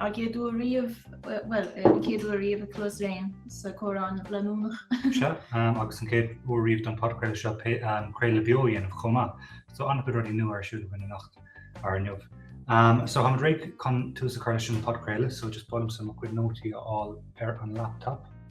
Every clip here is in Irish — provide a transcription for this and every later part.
Ár gcéad uair riamh, bhuel, an chéad uair riamh ag Cluasraon sa Comhrá Leanúnach seo, agus an chéad uair riamh don Podchraoladh seo craoladh beo a dhéanamh chomh maith. So an-chuid rudaí nua ar siúl againn anocht, nó inniu. So táimid réidh chun tús a chur leis an Podchraoladh, so just ba mhaith liomsa mo chuid nótaí a fháil ar an laptop.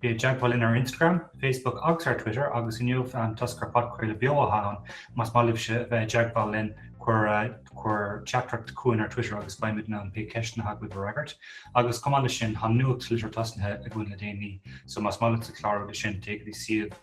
Bí i dteagmháil linn ar Instagram, Facebook agus ar Twitter agus inniu toisc gur podchraoladh beo atá ann, más maith libhse a bheith i dteagmháil linn, cuir teachtaireacht chugainn ar Twitter agus beimid in ann pé ceisteanna atá agaibh a fhreagairt. Agus chomh maith leis sin, tá nuachtlitir tosnaithe againn le déanaí, so más maith leatsa clárú leis sin, téigh go dtí suíomh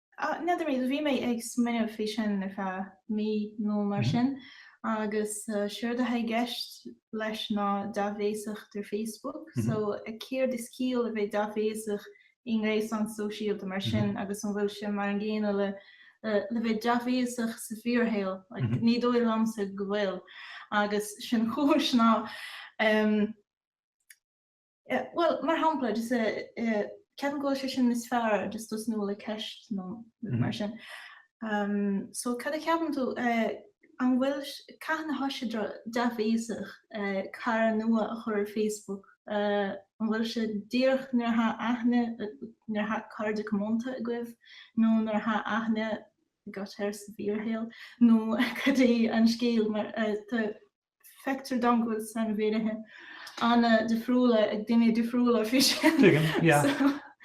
Á, n'fheadar, bhí mé ag smaoineamh faoi seo ar feadh mí nó mar sin agus séard atá i gceist leis ná dea-bhéasacht ar Facebook so céard is ciall le bheith dea-bhéasach i ngréasán sóisialta mar sin agus an bhfuil sé mar an gcéanna le bheith dea-bhéasach sa bhfíorshaol? Like, ní dóigh liomsa go bhfuil agus an chúis ná, em, Bhuel, mar shampla, ceapaim go bhfuil sé seo níos fearr just tosnú le ceist nó rud mar sin. So, cad a cheapann tú, an bhfuil, cathain atá sé dea-bhéasach cara nua a chur ar Facebook, an bhfuil sé díreach nuair atá aithne, nuair atá cairde cómhónta agaibh, nó nuair atá aithne, agat air sa bhfíorshaol, nó cad é an scéal, mar tá, Feictear dom go bhfuil sainmhínithe an-difriúla ag daoine difriúla faoi sin. Tuigim, yeah. So.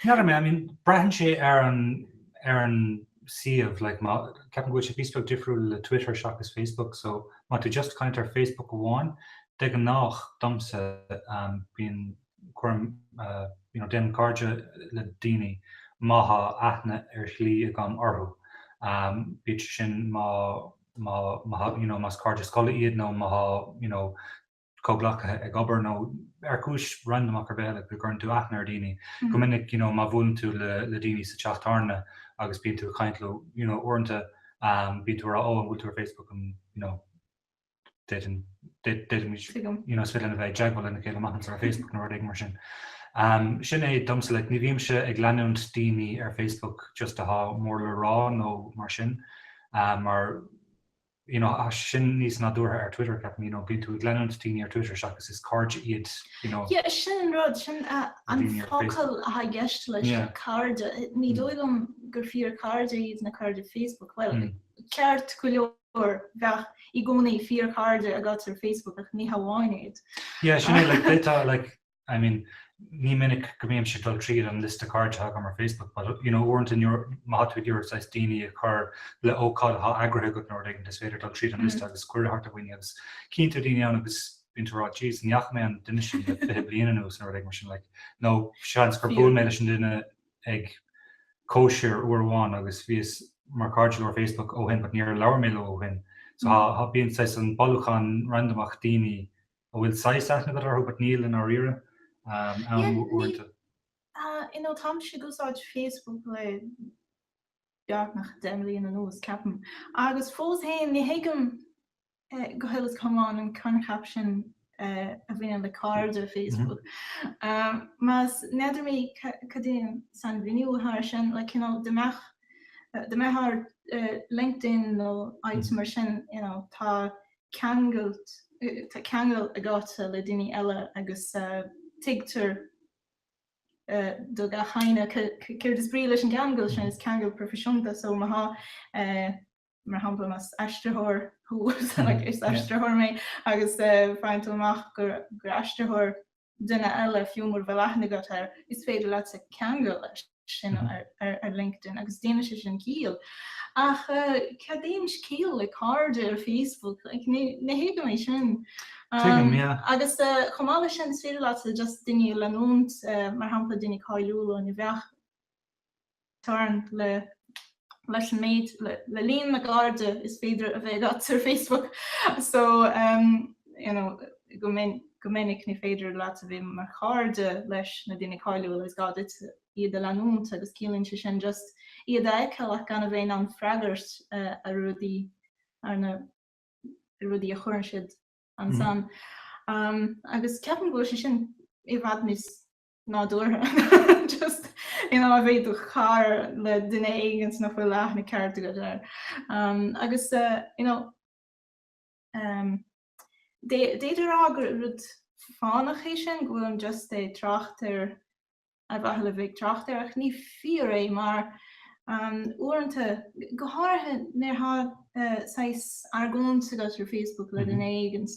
You know what I mean? I mean, braitheann sé ar an, ar an suíomh, like, má, ceapaim go bhfuil sé píosa beag difriúil le Twitter seachas Facebook, so má tá tú just ag caint ar Facebook amháin, de ghnáth, domsa, um, bíonn cuirim, uh, you know, déanaim cairde le daoine má thá aithne ar shlí agam orthu, um, bíodh sé sin má you know, más cairde scoile iad nó más, you know, comhghleacaithe ag obair nó ar chúis randamach ar bith eile go gcuireann tú aithne ar dhaoine. Go minic, you know, má bhuaileann tú le daoine sa teach tábhairne agus bíonn tú ag caint leo, you know, uaireanta bíonn tú ag rá 'Ó, an bhfuil tú ar Facebook? an, you know, d'fhéadfaimid, you know, is fill in a bheith ag teagmháil lena chéile amach anseo ar Facebook nó rud éigin mar sin. Sin é domsa, like, ní bhímse ag leanúint daoine ar Facebook just atá mór le rá nó mar sin. mar you know sin níos nádúrtha ar Twitter ceapaim, you know bíonn tú ag leanúint daoine ar Twitter seachas is cairde iad you know. Yeah is sin an rud, sin an focal atá i gceist leis na cairde, ní dóigh liom gur fíorchairde iad na cairde Facebook, bhuel ceart go leor bheadh i gcónaí fíorchairde agat ar Facebook ach ní hamháin iad. Yeah sin é, like I mean, ní minic go mbímse ag dul tríd an liosta cairde atá agam ar Facebook, but, you know, uaireanta nuair atá tú ag iarraidh saghas daoine a chur le hócáid atá eagraithe agat nó rud éigin, is féidir dul tríd an liosta agus cuireadh a thabhairt do dhaoine agus feictear daoine ann agus bíonn tú ag rá, Jeez, ní fhaca mé an duine sin le fiche bliain anuas nó rud éigin mar sin, like, nó seans gur bhuail mé leis an duine ag cóisir uair amháin agus bhíos mar cairde leo ar Facebook ó shin but níor labhair mé leo ó shin. So, bíonn saghas an bailiúchán randamach daoine a bhfuil saghas aithne agat orthu but níl i ndáiríre ann. You know, tá mise ag úsáid Facebook le beagnach deich mbliain anuas, ceapaim, agus fós féin ní thuigim go huile is go hiomlán an coincheap sin a bhaineann le cairde Facebook. Like, n'fheadar mé cad é an sainmhíniú atá air sin, like, you know, dá mbeadh, dá mbeadh ar LinkedIn nó áit mar sin, you know, tá ceangal, tá ceangal agat le daoine eile agus tuigtear do gach éinne céard is brí leis an gceangal sin, is ceangal proifisiúnta é, so má tá eh, mar shampla más aistritheoir thusa, is aistritheoir mé agus faigheann tú amach gur aistritheoir duine eile, fiú mura bhfuil aithne agat air, is féidir leatsa ceangal leis sin ar LinkedIn agus déanann sé sin ciall. Ach cad é an chiall le cairde ar Facebook? Like, ní thuigim é sin. Tuigim, yeah. Agus chomh maith leis sin, is féidir leatsa just duine a leanúint, mar shampla, duine cáiliúil óir bheadh. teorainn le leis an méid le líon na gcairde is féidir a bheith agat ar Facebook so you know go minic go minic ní féidir leat a bheith mar chairde leis na daoine cáiliúla is gá duit iad a leanúint agus ciallaíonn sé sin just iad a fheiceáil ach gan a bheith in ann freagairt ar rudaí arna ar rudaí a chuireann siad ansan agus ceapaim go bhfuil sé sin i bhfad níos nádúrtha. Just, you know, a bheith do chara le duine éigint nach bhfuil aithne ceart agat air. Agus, you know, d'fhéadfá a rá gur rud fánach é sin, go bhfuilim just ag trácht air, ar mhaithe le bheith ag trácht air, ach ní fíor é mar, uaireanta, go háirithe nuair atá saghas argóint agat ar Facebook le duine éigint,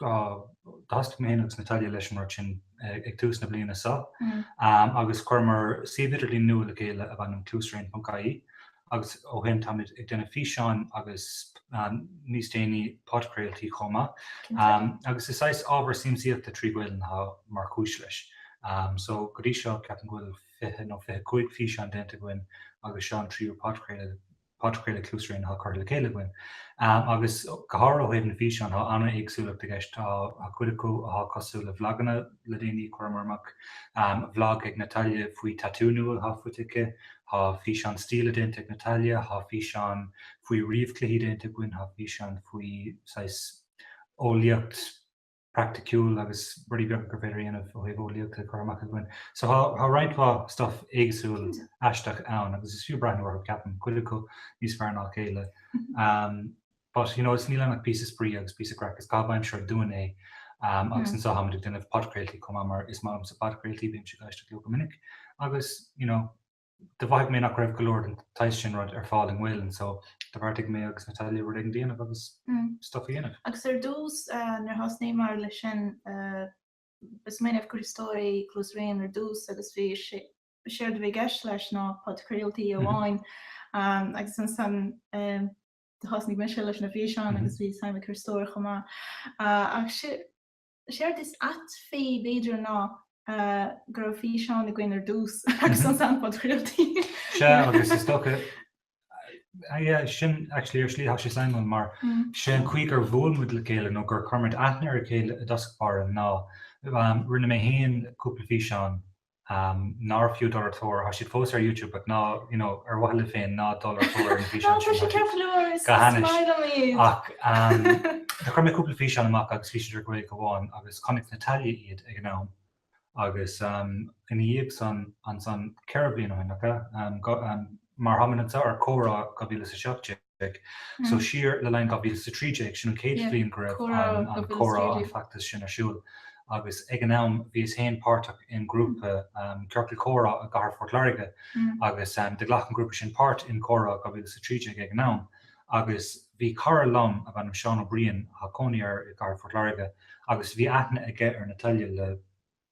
Do thosnaigh mé féin agus Natalia leis mar sin ag tús na bliana seo agus chuireamar suíomh idirlín nua le chéile darb ainm Cluasraon.ie agus ó shin táimid ag déanamh físeán agus, níos déanaí, podchraoltaí chomh maith agus is saghas ábhar siamsaíochta trí Ghaolainn atá mar chúis leis. Só, go dtí seo, ceapaim go bhfuil fiche nó fiche cúig físeán déanta againn agus seo an tríú podchraoladh podchraoladh Cluasraon atá curtha le chéile againn, agus go háirithe ó thaobh na físeán, tá an-éagsúlacht i gceist. Tá cuid acu atá cosúil le vlaganna le déanaí, chuireamar amach vlag ag Natalia faoi tatú nua atá faighte aici, tá físeán stíle déanta ag Natalia, tá físeán faoi ríomhchluichí déanta againn, tá físeán faoi saghas eolaíocht, praiticiúil agus rudaí beaga gur féidir a dhéanamh ó thaobh eolaíochta curtha amach againn. So tá roinnt mhaith stuff éagsúil aisteach ann agus is fiú breathnú orthu, ceapaim, cuid acu níos fearr ná a chéile. But, you know, is níl ann ach píosa spraoi agus píosa craic. Is caitheamh aimsire dúinn é agus anso táimid ag déanamh podchraoltaí chomh maith mar is maith liomsa podchraoltaí, bímse ag éisteacht leo go minic agus, you know, do mhothaigh mé nach raibh go leor den tsaghas sin rud ar fáil i nGaolainn so do bheartaigh mé agus Natalia rud éigin dhéanamh agus stuff a dhéanamh. Agus ar dtús nuair a thosnaíomar leis sin, ba smaoineamh Críostóir é Cluasraon ar dtús agus bhí sé, séard a bhí i gceist leis ná podchraoltaí amháin agus ansan do thosnaigh mise leis na físeáin agus bhí suim ag Críostóir chomh maith ach Is éard is ait fé, b'fhéidir, ná go raibh físeán againn ar dtús agus ansan an podchraoltaí. Sea, agus is dócha, aye, sin actually ar slí tá sé suimiúil, mar sé an chaoi gur bhuail muid le chéile nó gur chuir muid aithne ar a chéile i dtosach báire ná, rinne mé féin cúpla físeán nárbh fiú dul ar tóir, tá siad fós ar YouTube, but ná, you know, ar mhaithe libh féin, ná dul ar tóir ar na físeáin sin, tá siad ceart go leor, is maith liom iad. Ach, do chuir mé cúpla físeán amach agus bhí siad ar Gaeilge amháin agus chonaic Natalia iad ag an am agus ina dhiaidh san, ansan, ceithre bliana ó shin, oka, mar a thug mé anseo ar Comhrá 2017, Eorpaigh. So siar le linn 2013, sin an chéad bhliain go raibh an comhrá, an feachtas sin ar siúl agus ag an am bhíos féin páirteach i ngrúpa, ciorcal comhrá i gcathair Phort Láirge agus do ghlac an grúpa sin páirt i gComhrá 2013 ag an am agus bhí cara liom ab ainm Seán Ó Briain atá cónaí air i gcathair Phort Láirge agus bhí aithne aige ar Natalia le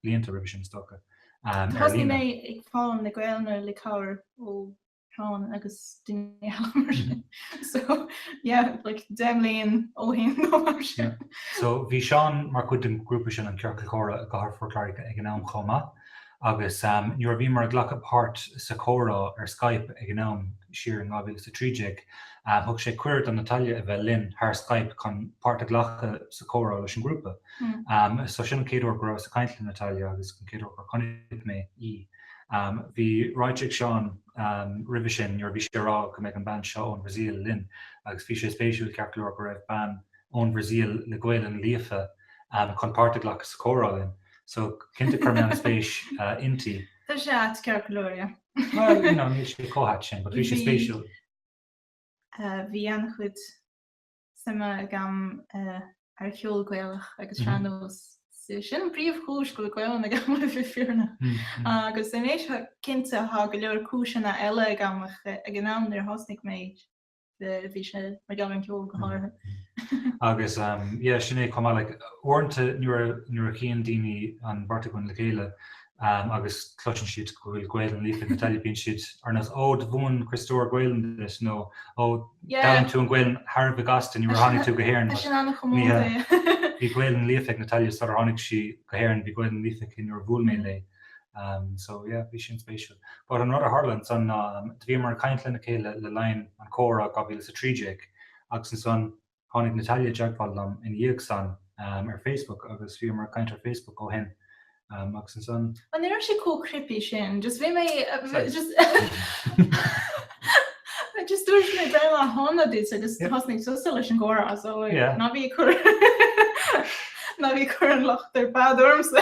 blianta roimhe sin is dócha. Thosnaigh mé ag foghlaim na Gaelainne le cabhair ó. Clann agus duine eile mar sin. So yeah, like deich mbliain ó shin nó mar sin. So bhí Seán mar chuid den ghrúpa sin, An Ciorcal Comhrá, i gcathair Phort Láirge ag an am chomh maith agus nuair a bhíomar ag glacadh páirt sa chomhrá ar Skype ag an am siar in 2013, thug sé cuireadh do Natalia a bheith linn thar Skype chun páirt a ghlacadh sa chomhrá leis an ghrúpa. So sin an chéad uair go rabhas ag caint le Natalia agus an chéad uair gur chonaic mé í. Bhí ráite ag Seán roimhe sin nuair a bhí sé ag rá go mbeidh an bean seo ón Brasaíl linn agus bhí sé spéisiúil ceart go leor go raibh bean ón Brasaíl le Gaelainn líofa chun páirt a ghlacadh sa chomhrá linn so cinnte chuir mé an-spéis inti. Tá sé ait ceart go leor, yeah. Bhuel, you know, níl sé chomh hait sin but bhí sé spéisiúil. Bhí an-chuid. suime agam ar cheol Gaelach agus sean-nós. Sin an príomhchúis go bhfuil Gaelainn agam le bheith fírinne. Agus anois cinnte, tá go leor cúiseanna eile agam ach ag an am nuair a thosnaigh mé, bhí sé mar gheall ar an gceol go háirithe. Agus yeah, sin é chomh maith, like, uaireanta nuair a chíonn daoine an bheirt againn le chéile, agus cloiseann siad go bhfuil Gaelainn líofa ag Natalia bíonn siad ar nós Oh, do mhúin Críostóir Gaelainn duit nó Oh, d'fhoghlaim tú an Gaelainn thar a bheith gasta nuair a tháinig tú go hÉirinn. Tá sin ana-chomónta, yeah. Bhí Gaelainn líofa ag Natalia sular tháinig sí go hÉirinn, bhí Gaelainn líofa aici nuair a bhuail mé léi. Um, so yeah, bhí sin spéisiúil. But an rud a tharla ansan ná um, bhíomar ag caint lena chéile le linn an Chomhrá 2013 agus ansan Tháinig Natalia i dteagmháil liom ina dhiaidh san ar Facebook agus bhíomar ag caint ar Facebook ó shin agus ansan. Ó ní raibh sé chomh creepy sin, just bhí mé just dúirt mé breithlá shona duit agus thosnaigh tusa leis an gcomhrá so ná bí ag cur ná bí ag cur an locht ar fad ormsa.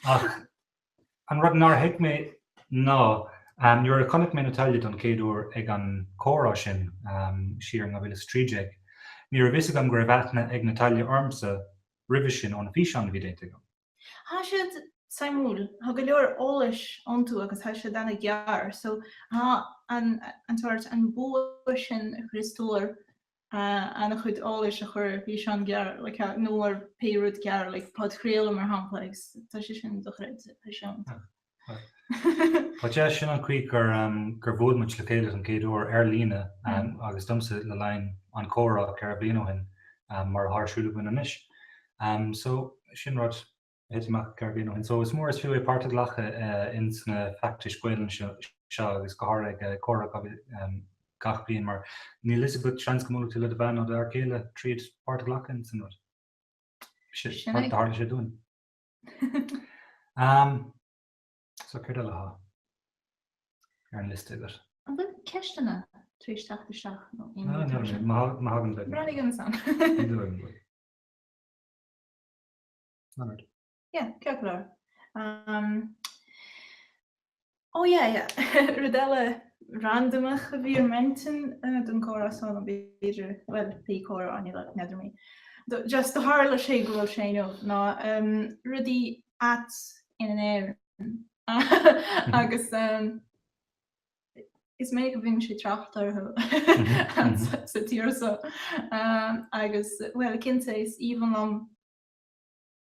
Ach An rud nár thuig mé ná nuair a chonaic mé Natalia don chéad uair ag an comhrá sin siar in 2013, ní raibh fhios agam go raibh aithne ag Natalia ormsa roimhe sin ó na físeáin a bhí déanta agam. Thá siad suimiúil, thá go leor eolais iontu agus thá siad ana ghearr so thá an sórt, an bua sin ag Críostóir, an-chuid eolais a chur ar físeán gearr nó ar pé rud gearr, like podchraoladh mar shampla, agus tá sé sin dochreidte, tá sé iontach. Mar 'sé sin an chaoi gur gur bhuail muid le chéile an chéad uair ar líne agus domsa le linn an comhrá ceithre bliana ó shin mar atá ar siúl againn anois. So sin rud éigin ceithre bliana ó shin. So is mór is fiú é páirt a ghlacadh ins na feachtais Gaolainne seo agus go háirithe ag Comhrá gach bliain mar níl a fhios agat seans go mbuailfidh tú le do bhean nó do fhear céile tríd páirt a ghlacadh ins an rud. Sin cad a tharla sé dúinn? Umm, so céard eile atá ar an liosta agat? An bhfuil ceisteanna tar éis teacht isteach nó aon rud mar sin? Má thagann, déan. Breathnóidh mé ansan. Leonard. Yeah, ceart go leor. Um, oh yeah, yeah. Rud eile randamach a bhí ar m'intinn uh, don comhrá seo ná b'fhéidir, well, bhí comhrá an lae, n'fheadar mé. Do- Just do tharla sé go bhfuil sé inniu ná um, rudaí ait in Éirinn. Agus um, is maith go mbíonn sé trácht orthu Mhm, sa- sa tír so. Um, agus, well, cinnte is aoibhinn liom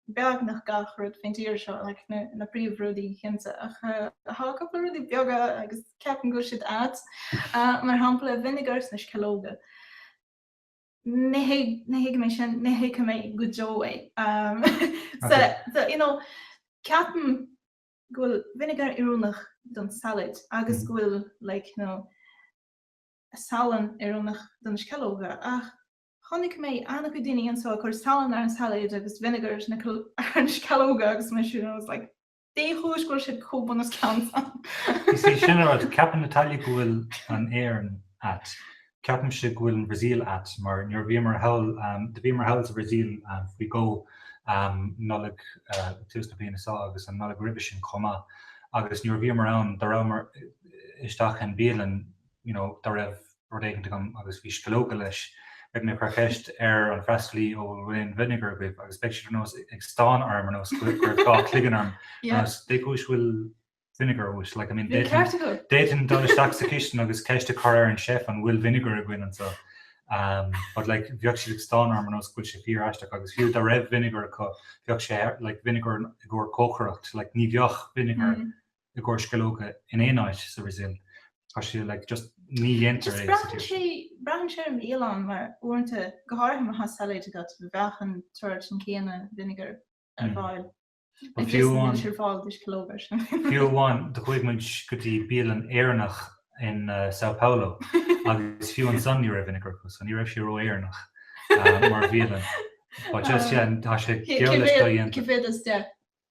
beagnach gach rud faoin tír seo, like na, na príomh rudaí cinnte, ach eh, tá cúpla rudaí beaga agus ceapaim go bhfuil siad ait, eh, mar shampla vinegar sna sceallóga. Ní thuigim, ní thuigim é sin, ní thuigfidh mé go deo é. Um, so, so, you know, ceapaim go bhfuil vinegar oiriúnach don salad agus mm. go bhfuil, like, you know, salann oiriúnach dos na sceallóga, ach Chonaic mé an-chuid daoine anseo ag cur salann ar an sailéid agus vinegar ar na sceallóga agus mé just, I was like, Dé chúis go bhfuil siad chomh bunoscionn san? Is é sin an rud, ceapann Natalia go bhfuil an Éirinn ait. Ceapaimse go bhfuil an Bhrasaíl ait mar nuair a bhíomar thall, do bhíomar thall sa Bhrasaíl faoi dhó, an Nollaig ag tús na bliana seo agus an Nollaig roimhe sin chomh maith, agus nuair a bhíomar ann, do rabhamar isteach i mbialann, you know, do raibh, rud éicint agam agus bhí sceallóga leis. Bheadh mé ag cur ceist ar an freastalaí ó bhfuil aon vinegar agaibh agus bheadh siad ar nós ag stán orm ar nós go raibh go raibh dhá chloigeann orm ar nós dé chúis bhfuil vinegar uait? Like I mean Níl ceart acu! D'fhéadfainn dul isteach sa chistean agus ceist a chur ar an chef an bhfuil vinegar againn anseo? Umm but like bheadh siad ag stán orm ar nós go bhfuil sé fíor-aisteach agus fiú dá raibh vinegar acu bheadh sé ar like vinegar i gcomhair cócaireacht like ní bheadh vinegar i gcomhair sceallóga in aon áit sa Bhrasaíl. Tá sé like just ní dhéantar é sa tír sin. Braitheann sé ar an bhialann mar uaireanta, go háirithe má tá sailéid agat, bheadh an tsórt sin céanna vinegar ar fáil. Like just níl sé ar fáil do sceallóga ansin. Fiú amháin do chuaigh muid go dtí bialann Éireannach in São Paulo agus fiú ansan ní raibh vinegar acu so ní raibh sé ró-Éireannach mar bhialann. But just yeah tá sé geall leis dodhéanta. Cé mhéad is deich?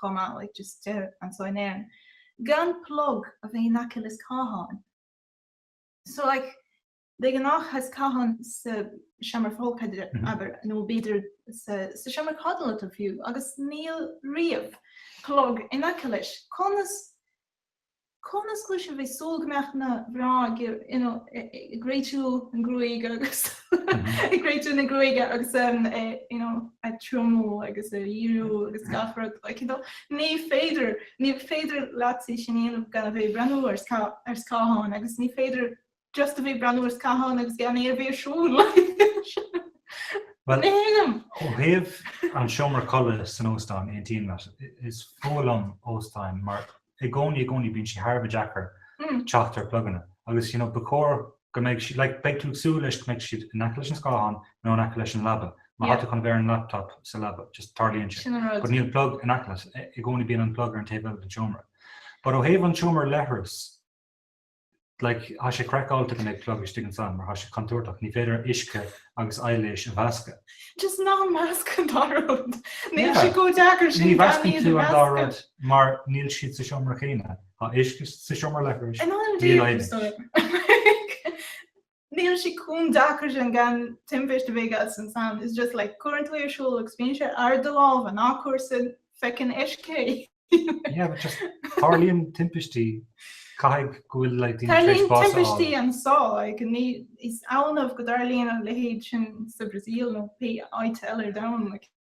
chomh maith, like just deir anso in Éirinn, gan plug a bheith in aice le scáthán. So like de ghnáth tá scáthán sa seomra folctha, abair, nó b'fhéidir sa seomra codlata fiú, agus níl riamh plug in aice leis. Conas Conas is cóir a bheith ag súil go mbeadh na mná ag réitiú na gruaige agus ag réitiú na gruaige agus ag triomú agus ag díriú agus gach rud, like, you know? Ní féidir, ní féidir leat é sin a dhéanamh gan a bheith ag breathnú ar scáthán agus ní féidir Just a bheith ag breathnú ar scáthán agus gan é a bheith ar siúl. Bhuel, ó thaobh an seomra codladh san óstán, aontaím leat. Is fuath liom óstáin mar i gcónaí, i gcónaí bíonn sé thar a bheith deacair teacht ar phluganna agus you know ba chóir go mbeidh siad, like beidh tú ag súil leis go mbeidh siad in aice leis an scáthán nó in aice leis an leaba. Má tá tú chun a bheith ar an laptop sa leaba, just tarlaíonn sé. Sin an rud. But níl plug in aice leat. I gcónaí bíonn an plug ar an taobh eile den seomra. But ó thaobh an seomra leithreas, like, thá sé craiceáilte go mbeadh plug istigh ansan mar thá sé contúirteach, ní féidir uisce agus aibhléis a mheascadh. Just ná measc an dá rud. Níl sé chomh deacair sin. Ní mheascann tú an dá rud mar níl siad sa seomra céanna. Tá uisce sa seomra leithris. Níl aibhléis. Níl sé chomh deacair sin gan timpiste a bheith agat ansan, is just like cuireann tú é ar siúl agus bíonn sé i do lámh ná cuir sa feckin' uisce é. Yeah but just tarlaíonn timpistí, caithfidh go bhfuil like daoine tar éis bás a fháil. Tarlaíonn timpistí anso like ní, is annamh go dtarlaíonn an leithéid sin sa Bhrasaíl nó pé áit eile ar domhan like.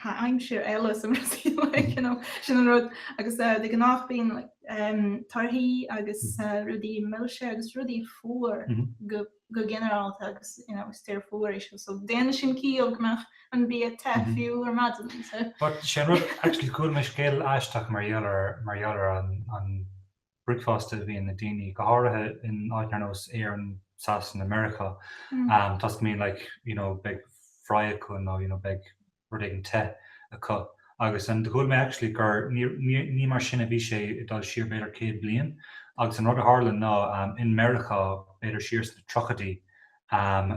thá aimsir eile sa Bhrasaíl like you know sin an rud agus eh, de ghnáth bíonn like em, torthaí agus mm-hmm. eh, rudaí milse agus rudaí fuar mm-hmm. go go generálta agus you know is tír fuar é seo so déanann sin ciall go mbeadh an bia te mm-hmm. fiú ar maidin so. But sin rud actually chuala mé scéal aisteach mar gheall ar mar gheall ar an an bricfeasta a bhíonn ag daoine, go háirithe in áiteanna ar nós Éirinn, Sasana, Meiriceá, toisc go mbíonn like, you know, beidh fry acu nó, you know, beidh rud éigin te acu. Agus and chuala mé actually gur, ní, ní, ní mar sin a bhí sé ag dul siar b'fhéidir céad bliain agus an rud a tharla ná um in Meiriceá b'fhéidir siar sna tríochaidí um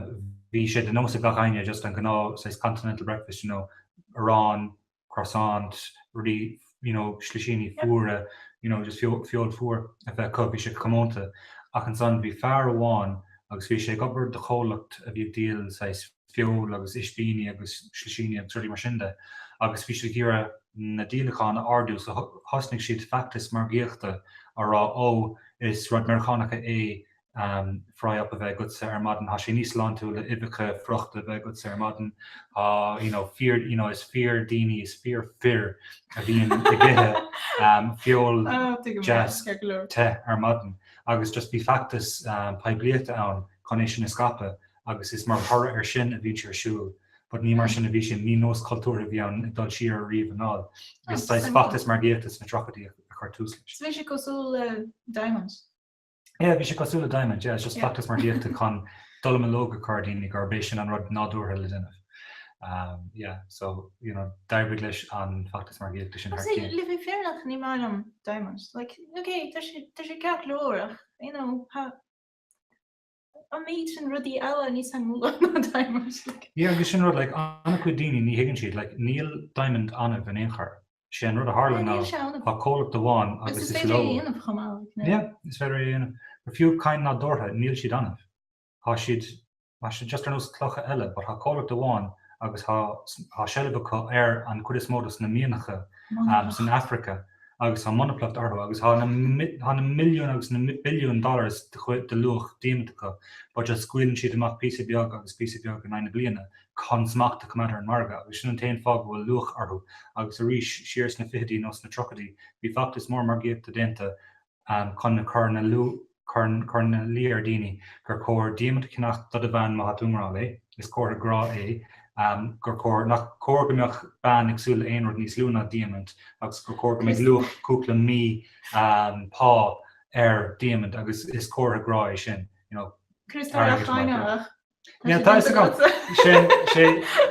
bhí sé de nós ag gach éinne just an gnáth saghas continental breakfast, you know, arán, croissant, rudaí, you know, slisíní fuara, you know, just feoil, feoil fuar a bheith acu, bhí sé comónta. Ach ansan bhí fear amháin agus bhí sé ag obair do chomhlacht a bhí ag díol saghas feoil agus ispíní agus slisíní agus rudaí mar sin de agus bhí sé ag iarraidh na díolacháin a ardú so thosnaigh siad feachtas margaíochta á rá 'Ó, is rud Meiriceánach é fry up a bheith agatsa ar maidin, tá sé níos sláintiúil le uibheacha frochta a bheith agatsa ar maidin, tá, you know, fear, you know, is fíordhaoine, is fíorfhir a bhíonn ag ithe feoil deas te ar maidin, agus just bhí feachtas poiblíochta ann chun é sin a scaipeadh, agus is mar thoradh air sin a bhíonn sé ar siúl, but ní mar sin a bhí sin, ní nós cultúrtha a bhí ann ag dul siar ariamh anall, is saghas feachtas margaíochta sna tríochaidí a chuir tús leis. So bhí sé cosúil le Diamond? Yeah, bhí sé cosúil le diamond, yeah, it's just feachtas margaíochta chun a chur ina luí ar daoine gurb é sin an rud nádúrtha le déanamh. Um, yeah, so, you know, d'oibrigh leis an feachtas margaíochta sin thar cionn. Agus le bheith fírinneach, ní maith liom diamond. Like, ok, tá sé, tá sé ceart go leor ach, you know, ha. An méid sin rudaí eile níos suimiúla ná Diamond? Yeah, agus sin rud, like, an-chuid daoine ní thuigeann siad, like, níl Diamond annamh in aon chor. Sé an rud a tharla ná, tá comhlacht amháin agus is leo. Is féidir é a dhéanamh chomh maith, like, ná? Yeah, is féidir é a dhéanamh. But fiú cinn nádúrtha, níl siad annamh. Tá siad, tá siad just ar nós clocha eile, but tá comhlacht amháin agus tá, tá seilbh acu ar an chuid is mó de sna mianacha san Afraice agus tá monaplacht orthu agus tá na milliúin agus na billiúin dollars de luach diamaint acu, but just, scaoileann siad amach píosa beag agus píosa beag in aghaidh na bliana chun smacht a choimeád ar an margadh agus sin an t-aon fáth go bhfuil luach orthu agus arís siar sna fichidí nó sna tríochaidí bhí feachtas mór margaíochta déanta chun a chur ina luí chur ina luí ar dhaoine gur chóir diamaint a cheannach do do bhean má tá tú i ngrá léi. Is comhartha grá é gur chóir, nach cóir go mbeadh bean ag súil le haon rud níos lú ná diamaint agus gur chóir go mbeadh luach cúpla mí pá ar dhiamaint agus is comhartha grá é sin, you know, airgead mar grá. Tá sé déanta agat. Sé,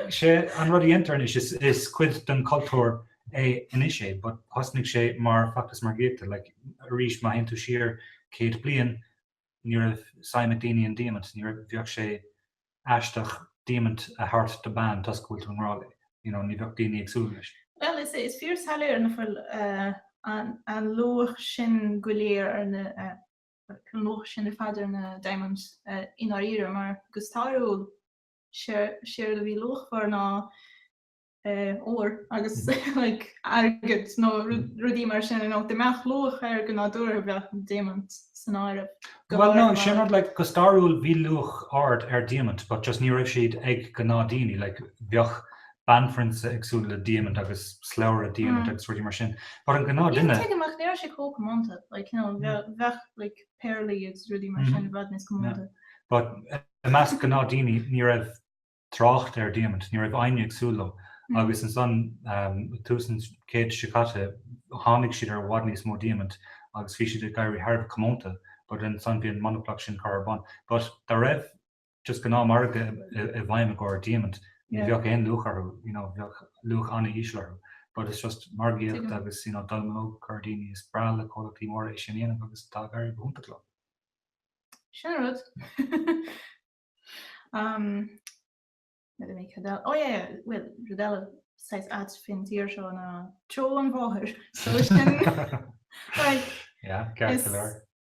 sé, an rud a dhéantar anois is, is cuid den cultúr é anois é, but thosnaigh sé mar feachtas margaíochta, like, arís má théann tú siar céad bliain ní raibh suim ag daoine in diamant, ní raibh, bheadh sé aisteach diamant a thabhairt do bean toisc go bhfuil tú i ngrá léi, you know, ní bheadh daoine ag súil leis. Bhuel, is é, is fíorshoiléir ná fuil, an, an luach sin go léir ar na, An luach sin ar fad ar na Diamonds i ndáiríre, mar go stairiúil, séard a bhí luachmhar ná ór agus airgead nó rudaí mar sin, nó dá mbeadh luach air go nádúrtha bheadh an Diamant san áireamh go háirithe mar. Bhuel no sin rud, go stairiúil bhí luach ard ar Diamant but just ní raibh siad ag gnáthdhaoine, bheadh banphrionsa ag súil le diamant agus slabhra diamant agus rudaí mar sin. But an gnáthdhuine. Tuigim, ach ní raibh sé chomh comónta. Like, you know, bheadh, bheadh like péarlaí agus rudaí mar sin i bhfad níos comónta. But, i measc gnáthdhaoine, ní raibh trácht ar diamant, ní raibh éinne ag súil leo. Agus ansan, tús an chéid seo caite, tháinig siad ar i bhfad níos mó diamant agus bhí siad ag éirí thar a bheith comónta. But ansan bhí an monaplacht sin curtha ar bun. But, dá raibh, just gnáthmhargadh i bhfeidhm i gcomhair diamant, ní bheadh aon luach orthu, you know, bheadh luach an-íseal orthu, but it's just margaíocht agus, you know, dallamullóg, curtha ar dhaoine, is breá le comhlachtaí móra é sin a dhéanamh agus tá ag éirí go hiontach leo. Sin an rud. um, Let me think about Oh yeah, well, rud eile saghas ait faoin tír seo ná treo an bhóthair. So sin like Yeah, ceart is, go leor.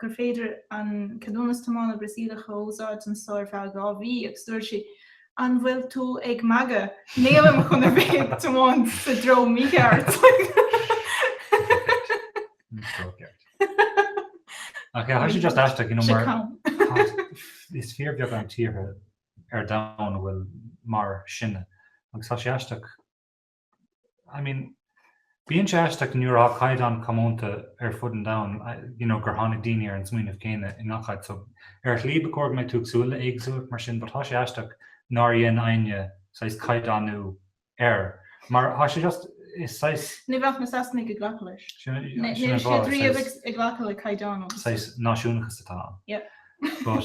gur féidir an ceadúnas tiomána Brasaíleach a úsáid anso ar feadh dhá mhí agus dúirt sí, An bhfuil tú ag magadh? Nílim chun a bheith ag tiomáint sa dtreo mícheart! Is fíorbheagán tíortha ar domhan a bhfuil mar sinne agus tá sé aisteach I mean, bíonn sé aisteach nuair atá caighdeán comónta ar fud an domhain, you know, gur tháinig daoine ar an smaoineamh céanna i ngach áit. So, ar shlí, ba chóir go mbeidh tú ag súil le éagsúlacht mar sin, but tá sé aisteach nár dhein éinne saghas caighdeánú air. Mar tá sé just, is saghas... Ní bheadh na Sasanaigh ag glacadh leis. Sin an fáth. Níl siad riamh ag glacadh le caighdeánú. Saghas náisiúnachas atá ann. Yep. But...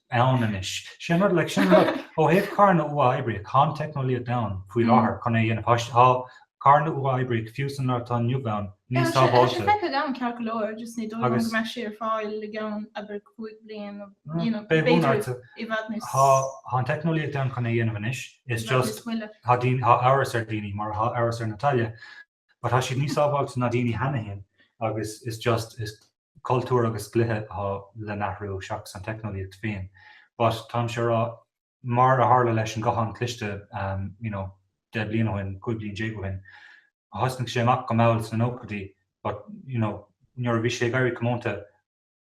ann anois. Sin rud, like, sin rud, ó thaobh carranna uathoibríoch, tá an teicneolaíocht ann faoi láthair chun é a dhéanamh. Tá, tá carranna uathoibríoch, fiú san lá atá inniu ann, níos sábháilte. Tá sé, tá sé feicthe agam ceart go leor, just ní dóigh liom go mbeadh sé ar fáil i gceann, abair, cúig bliain nó, you know, b'fhéidir i bhfad níos. Tá, tá an teicneolaíocht ann chun é a dhéanamh anois, it's just, tá daoine, tá amhras ar dhaoine, mar atá amhras ar Natalia, But tá siad níos sábháilte ná daoine cheana féin agus is just, is cultúr agus dlíthe atá le n-athrú seachas an teicneolaíocht féin. But táimse a' rá, mar a tharla leis an ghuthán cliste you know deich bliain ó shin, cúig bliain déag ó shin, thosnaigh sé amach go mall sna nóchaidí but you know nuair a bhí sé ag éirí comónta,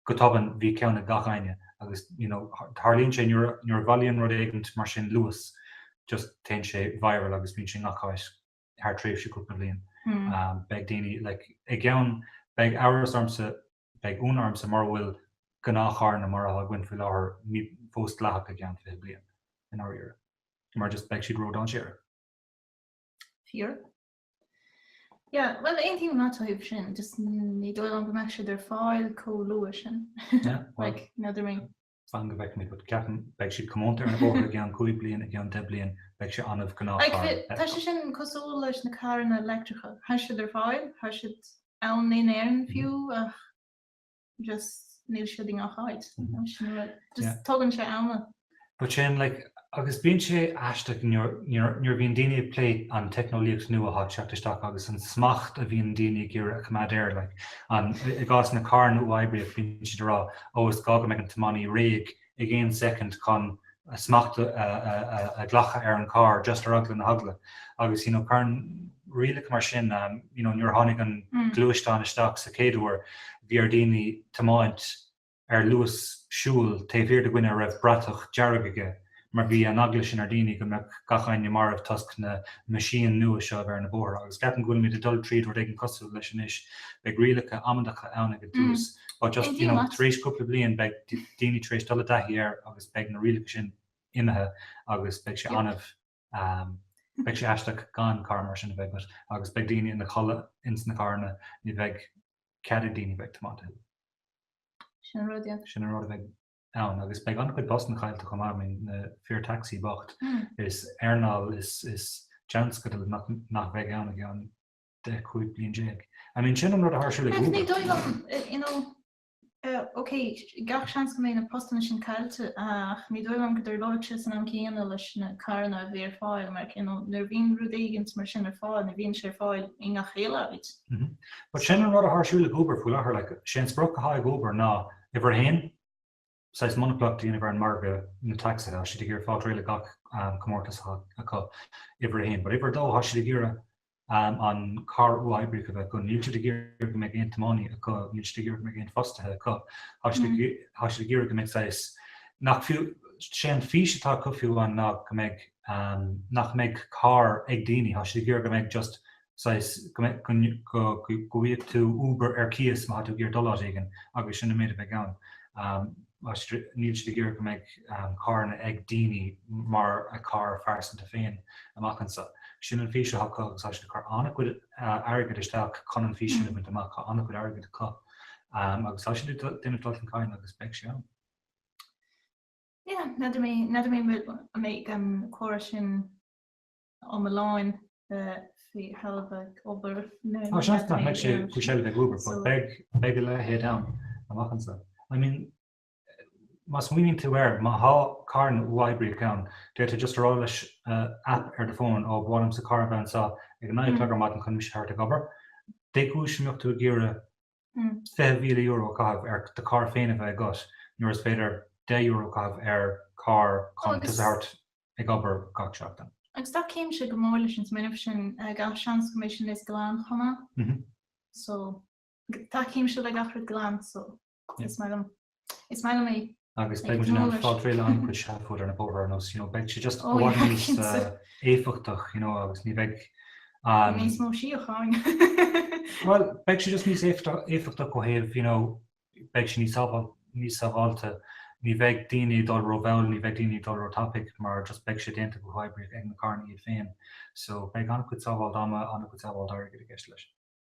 go tobann bhí ceann ag gach éinne agus you know tharlaíonn sé nuair a, nuair a bhailíonn rud éigint mar sin luas, just téann sé viral agus bíonn sé i ngach áit. thar tréimhse cúpla bliain. Beidh daoine, like, i gceann, beidh amhras ormsa, beidh ionadh ormsa mura bhfuil gnáthcharranna mar atá againn faoi láthair ní fós dleathach i gceann fiche bliain, i ndáiríre. Mar just, beidh siad ródhainséarach. Fíor. Yeah, bhuel, aontaím leat ó thaobh sin, just ní dóigh liom go mbeadh siad ar fáil chomh luath sin. Yeah, well. Like, you know what I mean? Fan go bhfeicfidh mé. But ceapaim beidh siad comónta ar na bóithre i gceann cúig bliain, i gceann deich bliain beidh sé annamh gnáthchairr. Tá sé sin cosúil leis na carranna leictreacha, tá siad ar fáil, tá siad ann in Éirinn fiú ach just níl siad i ngach áit, sin an rud, just tógann sé am. But sin like, Agus bíonn sé aisteach nuair a bhíonn daoine ag plé an teicneolaíocht nua atá ag teacht isteach agus an smacht a bhíonn daoine ag iarraidh a choimeád air. I gcás na carranna uathoibríoch bíonn siad ag rá, ó is gá go mbeidh an tiománaí réidh ag aon soicind chun smacht a ghlacadh ar an charr, just ar eagla na heagla. Agus you know, carn rialacha mar sin, you know nuair a tháinig an gluaisteán isteach sa chéad uair bhí ar daoine tiomáint, ar luas siúil taobh thiar de dhuine a raibh bratach dearg aige mar bhí an eagla sin ar daoine go mbeadh gach éinne marbh toisc na meaisín nua seo a bheith ar na bóithre agus ceapaim go bhfuilimid ag dul tríd rud éigin cosúil leis anois beidh rialacha amaideacha ann ag an tús but just you know tar éis cúpla bliain beidh daoine tar éis dul i dtaithí air agus beidh na rialacha sin imithe agus beidh sé annamh Beidh sé aisteach gan carr mar sin a bheith agat agus beidh daoine ina chodladh ins na carranna ní bheidh cead ag daoine bheith ag tiomáint uathu. Sin an rud, yeah. Sin an rud a bheidh ann agus beidh an-chuid postanna caillte chomh maith, I mean na fir tacsaí bocht. Is earnáil, is tionscadal nach bheidh ann i gceann 10, 15 bliain. I mean sin an rud atá ar siúl ag Uber. Bhuel ní dóigh liom, you know, OK, gach seans go mbeidh na postanna sin caillte, ach ní dóigh liom go dtarlóidh sé san am céanna leis na carranna a bheith ar fáil, mar you know, nuair a bhíonn rud éigint mar sin ar fáil, ní bhíonn sé ar fáil i ngach uile áit. But sin an rud atá ar siúl ag Uber faoi láthair, like, is é an sprioc atá ag Uber ná, Uimhir a haon, saghas monaplacht a dhéanamh ar an margadh na tacsaithe, tá siad ag iarraidh fáilt réidh le gach comórtas acu, uimhir a haon. But uimhir a dó, tá siad ag iarraidh an carr uathoibríoch a bheith acu, níl siad ag iarraidh go mbeidh aon tiománaí acu, níl siad ag iarraidh go mbeidh aon fostaithe acu, tá siad ag iarraidh go mbeidh saghas, nach fiú, sé an fís atá acu fiú amháin ná go mbeidh, nach mbeidh carr ag daoine, tá siad ag iarraidh go mbeidh just saghas go bhfuigheadh tú Uber ar cíos má tá tú ag iarraidh dul áit éigin agus sin an méid a bheidh ann. Níl siad ag iarraidh go mbeidh carranna ag daoine mar a gcarr phearsanta féin amach anso. Sin an fís atá acu agus tá siad ag cur an-chuid airgid isteach chun an fís sin a bhaint amach. Tá an-chuid airgid acu agus tá siad ag déanamh dul chun cinn agus beidh sé ann. Yeah, n'fheadar mé an mbeidh an córas sin iomlán faoi sheilbh ag Uber nó Tá seans nach mbeidh sé faoi seilbh ag Uber, but beidh, beidh a leithéid ann amach anso. I mean, má smaoiníonn tú air, má thá carranna uathoibríoch ann, d'fhéadfadh tú just a rá leis app ar do phone, Ó, ba mhaith liomsa carr a bheith anso ag a naoi a chlog ar maidin chun mise a thabhairt ag obair. Dé chúis a mbeadh tú ag iarraidh €20,000 a chaitheamh ar do charr féin a bheith agat nuair is féidir €10 a chaitheamh ar charr chun tusa a thabhairt ag obair gach seachtain. Agus táimse go mór leis an smaoineamh sin, gach seans go mbeidh sé níos glaine chomh maith, so táimse le gach rud glan, so is maith liom. Is maith liom é. Agus beidh muid in ann fáil réidh le an-chuid seafóid ar na bóithre nó you know beidh sé just i bhfad níos éifeachtach you know agus ní bheidh an... Níos mó síocháin. Bhuel, beidh sé just níos éifeachtach ó thaobh you know beidh sé níos níos sábháilte. Ní bheidh daoine ag dul rómhall, ní bheidh daoine ag dul róthapaidh mar just beidh sé déanta go huathoibríoch ag na carranna iad féin. So beidh an-chuid sábháilt ama, an-chuid sábháilt airgid i gceist leis.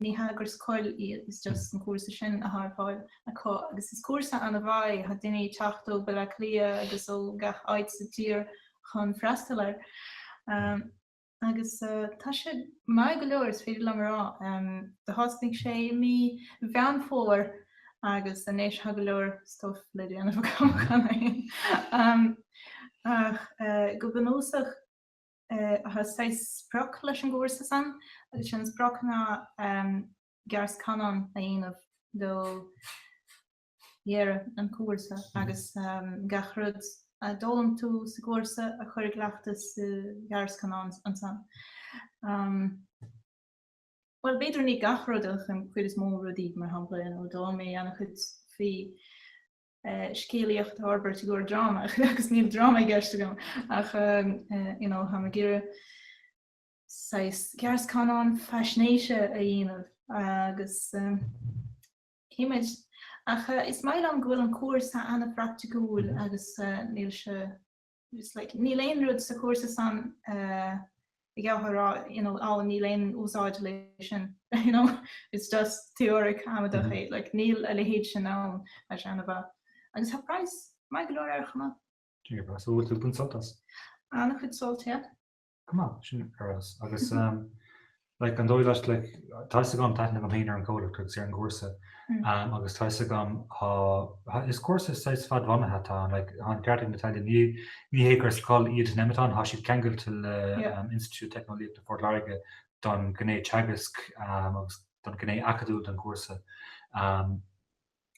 Ní hé gur scoil iad, is just an cúrsa sin atá ar fáil acu, agus is cúrsa ana-mhaith é, tá daoine ag teacht ó Bhaile Átha Cliath agus ó gach áit sa tír chun freastal air. Agus tá sé maith go leor, is féidir liom a rá. Do thosnaigh sé i mí Mheán Fómhair agus anois tá go leor stuff le déanamh agam cheana féin. Ach go bunúsach, Tá saghas sprioc leis an gcúrsa san, agus an sprioc ná gearrscannán a dhéanamh ag deireadh an chúrsa agus gach rud a d'fhoghlaim tú sa gcúrsa a chur i gcleachtas sa ghearrscannán ansan. Bhuel, b'fhéidir ní gach rud ach an chuid is mó rudaí, mar shampla, d'fhoghlaim mé an-chuid faoi scéalaíocht a fhorbairt i gcomhair dráma agus níl dráma i gceist agam ach you know tá mé ag iarraidh saghas gearrscannán faisnéise a dhéanamh agus cífimid? Ach is maith liom go bhfuil an cúrsa an-phraiticiúil agus níl sé It's like, níl aon rud sa chúrsa san gur féidir a rá, you know, á, níl aon úsáid leis sin, you know, it's just teoiric amadach é, like, níl a leithéid sin ann, mar sin, an-mhaith. Agus tá praghas maith go leor air, chomh maith. So an bhfuil tú ag baint sult as? An-chuid sult, yeah. Go maith, sin ar fheabhas. Agus like, an dóigh leat, like, tá's agam tá aithne mhaith agam ar an gcomhlacht agus ar an gcúrsa. Um, agus tá's agam, tá, is cúrsa is saghas fadbhunaithe atá ann, like, tá an ceart agat Natalie, ní, ní hé gur scoil iad Nemeton, tá siad ceangailte le Yeah. um, Institiúid Teicneolaíochta Phort Láirge don ghné teagasc, um, agus don ghné acadúil den chúrsa. Um,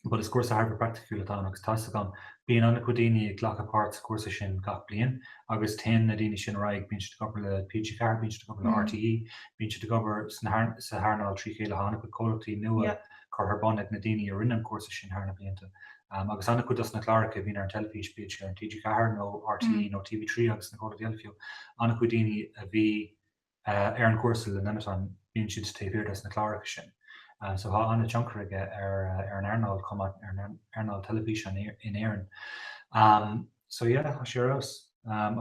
but is cúrsa thar a bheith praiticiúil atá ann agus tá 'fhios agam bíonn an-chuid daoine ag glacadh páirt sa chúrsa sin gach bliain agus téann na daoine sin ar aghaidh, bíonn siad ag obair le TG4, bíonn siad ag obair le RTÉ, bíonn siad ag obair sa earnáil trí chéile, tá an-chuid comhlachtaí nua curtha ar bun ag na daoine a rinne an cúrsa sin thar na blianta agus an-chuid dos na cláracha a bhíonn ar an teilifís, bíodh sé ar TG4 nó RTÉ nó TV3 agus na comhlachtaí eile fiú, an-chuid daoine a bhí. ar an gcúrsa le Nemeton bíonn siad taobh thiar des na cláracha sin so tá an-tionchar aige ar an earnáil chomh maith, ar an earnáil teilifíse in Éirinn. So yeah, tá sé ar fheabhas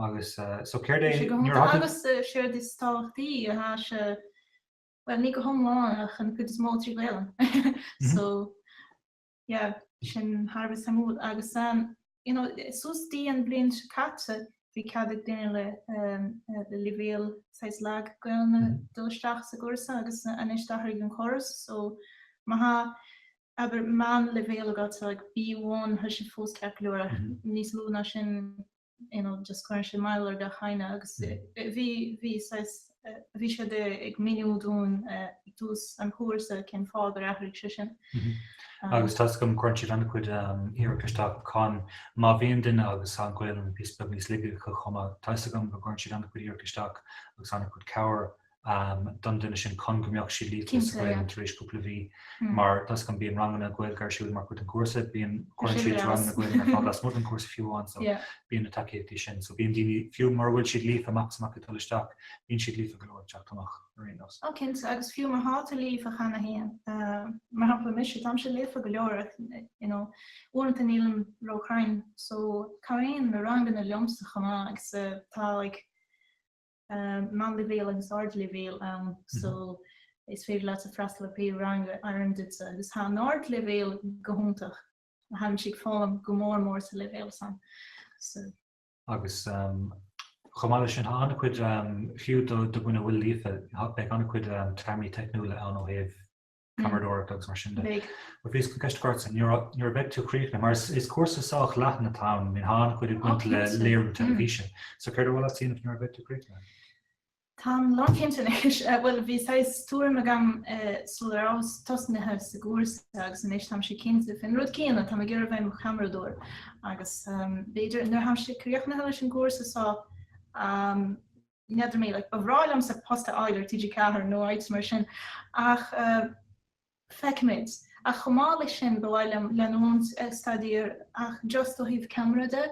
agus so céard é, nuair a. Agus séard is tábhachtaí, tá sé, bhuel ní go hiomlán ach an chuid is mó trí Ghaolainn so. Yeah, sin thar a bheith suimiúil. Agus ehm, you know, suas dtí an bhliain seo caite, bhí cead ag duine le ehm, le leibhéal saghas lag Gaolainne mm-hmm. dul isteach sa gcúrsa agus anois d'athraigh an córas. So, má tá abair meán leibhéal agat ag B1, tá sé fós ceart go leor, mm-hmm. níos lú ná sin you know, just cuireann siad moill ar do dhuine agus bhí, bhí saghas, bhí siad ag míniú dúinn ag tús an chúrsa cén fáth gur athraigh sé sin. Agus tá fhios agam go gcuireann siad an-chuid iarracht isteach cun má bhíonn duine agus an Ghaelainn píosa beag níos laige acu chomh maith, tá fhios agam go gcuireann siad an-chuid iarracht isteach agus an-chuid cabhair don duine sin chun go mbeadh siad líofa sa Ghaelainn tar éis cúpla mhí, mar tá a fhios agam bíonn ranganna Gaeilge ar siúl mar chuid den chúrsa, bíonn, cuireann siad ranganna Gaeilge ar fáil lasmuigh den chúrsa fiú amháin, so bíonn na tacaíochtaí sin, so bíonn daoine, fiú mura bhfuil siad líofa amach is amach ag dul isteach, bíonn siad líofa go leor ag teacht amach ar aon nós. Ó cinnte, agus fiú má thá tú líofa cheana féin, mar shampla mise, táimse líofa go leor, you know, uaireanta nílim róchruinn, so cabhraíonn na ranganna liomsa chomh maith, agus tá like, meánleibhéal agus ardleibhéal ann, so is féidir leat freastal ar pé rang a oireann duitsa, agus thá an t-ardleibhéal go hiontach, tháimse ag foghlaim go mór mór sa leibhéal san, so. Agus chomh maith leis sin, tá an-chuid, fiú do dhuine a bhfuil líofa, beidh an-chuid téarmaí teicniúla ann ó thaobh ceamaradóireacht agus mar sin de. Bheadh. Bhíos chun ceist a chur ortsa, nuair a bheidh tú críochnaithe, mar is cúrsa sách leathan atá ann, mar tá an-chuid ag baint le léiriú teilifíse. So céard a bhfuil tú chun a dhéanamh nuair a bheidh tú críochnaithe? Táim lánchinnte anois. Bhuel, bhí saghas tuairim agam sula rabhas tosnaithe sa gcúrsa agus anois táimse cinnte faoin rud céanna, táim ag iarraidh bheith mo cheamaradóir agus b'fhéidir nuair a tháimse críochnaithe leis an gcúrsa so, n'fheadar mé, like, ba bhreá liomsa post a fháil le TG4 nó áit mar sin, ach feicfimid. Ach chomh maith leis sin, ba mhaith liom leanúint ag staidéar ach just ó thaobh ceamara de,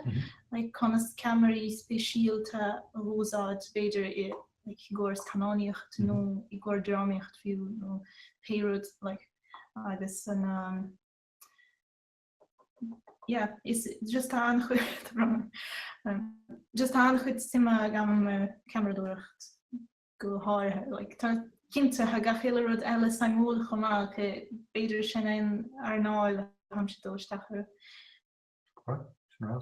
like, conas ceamaraí speisialta a úsáid, b'fhéidir, i gcóir scannánaíocht nó i gcóir drámaíocht fiú nó pé rud, like, agus an, Yeah, is just tá just tá an-chuid suime agam an eh, ceamaradóireacht go háirithe. Like, cinnte thá gach uile rud eile suimiúil chomh maith ach b'fhéidir sin an earnáil tháimse ag dul isteach air. Right, sin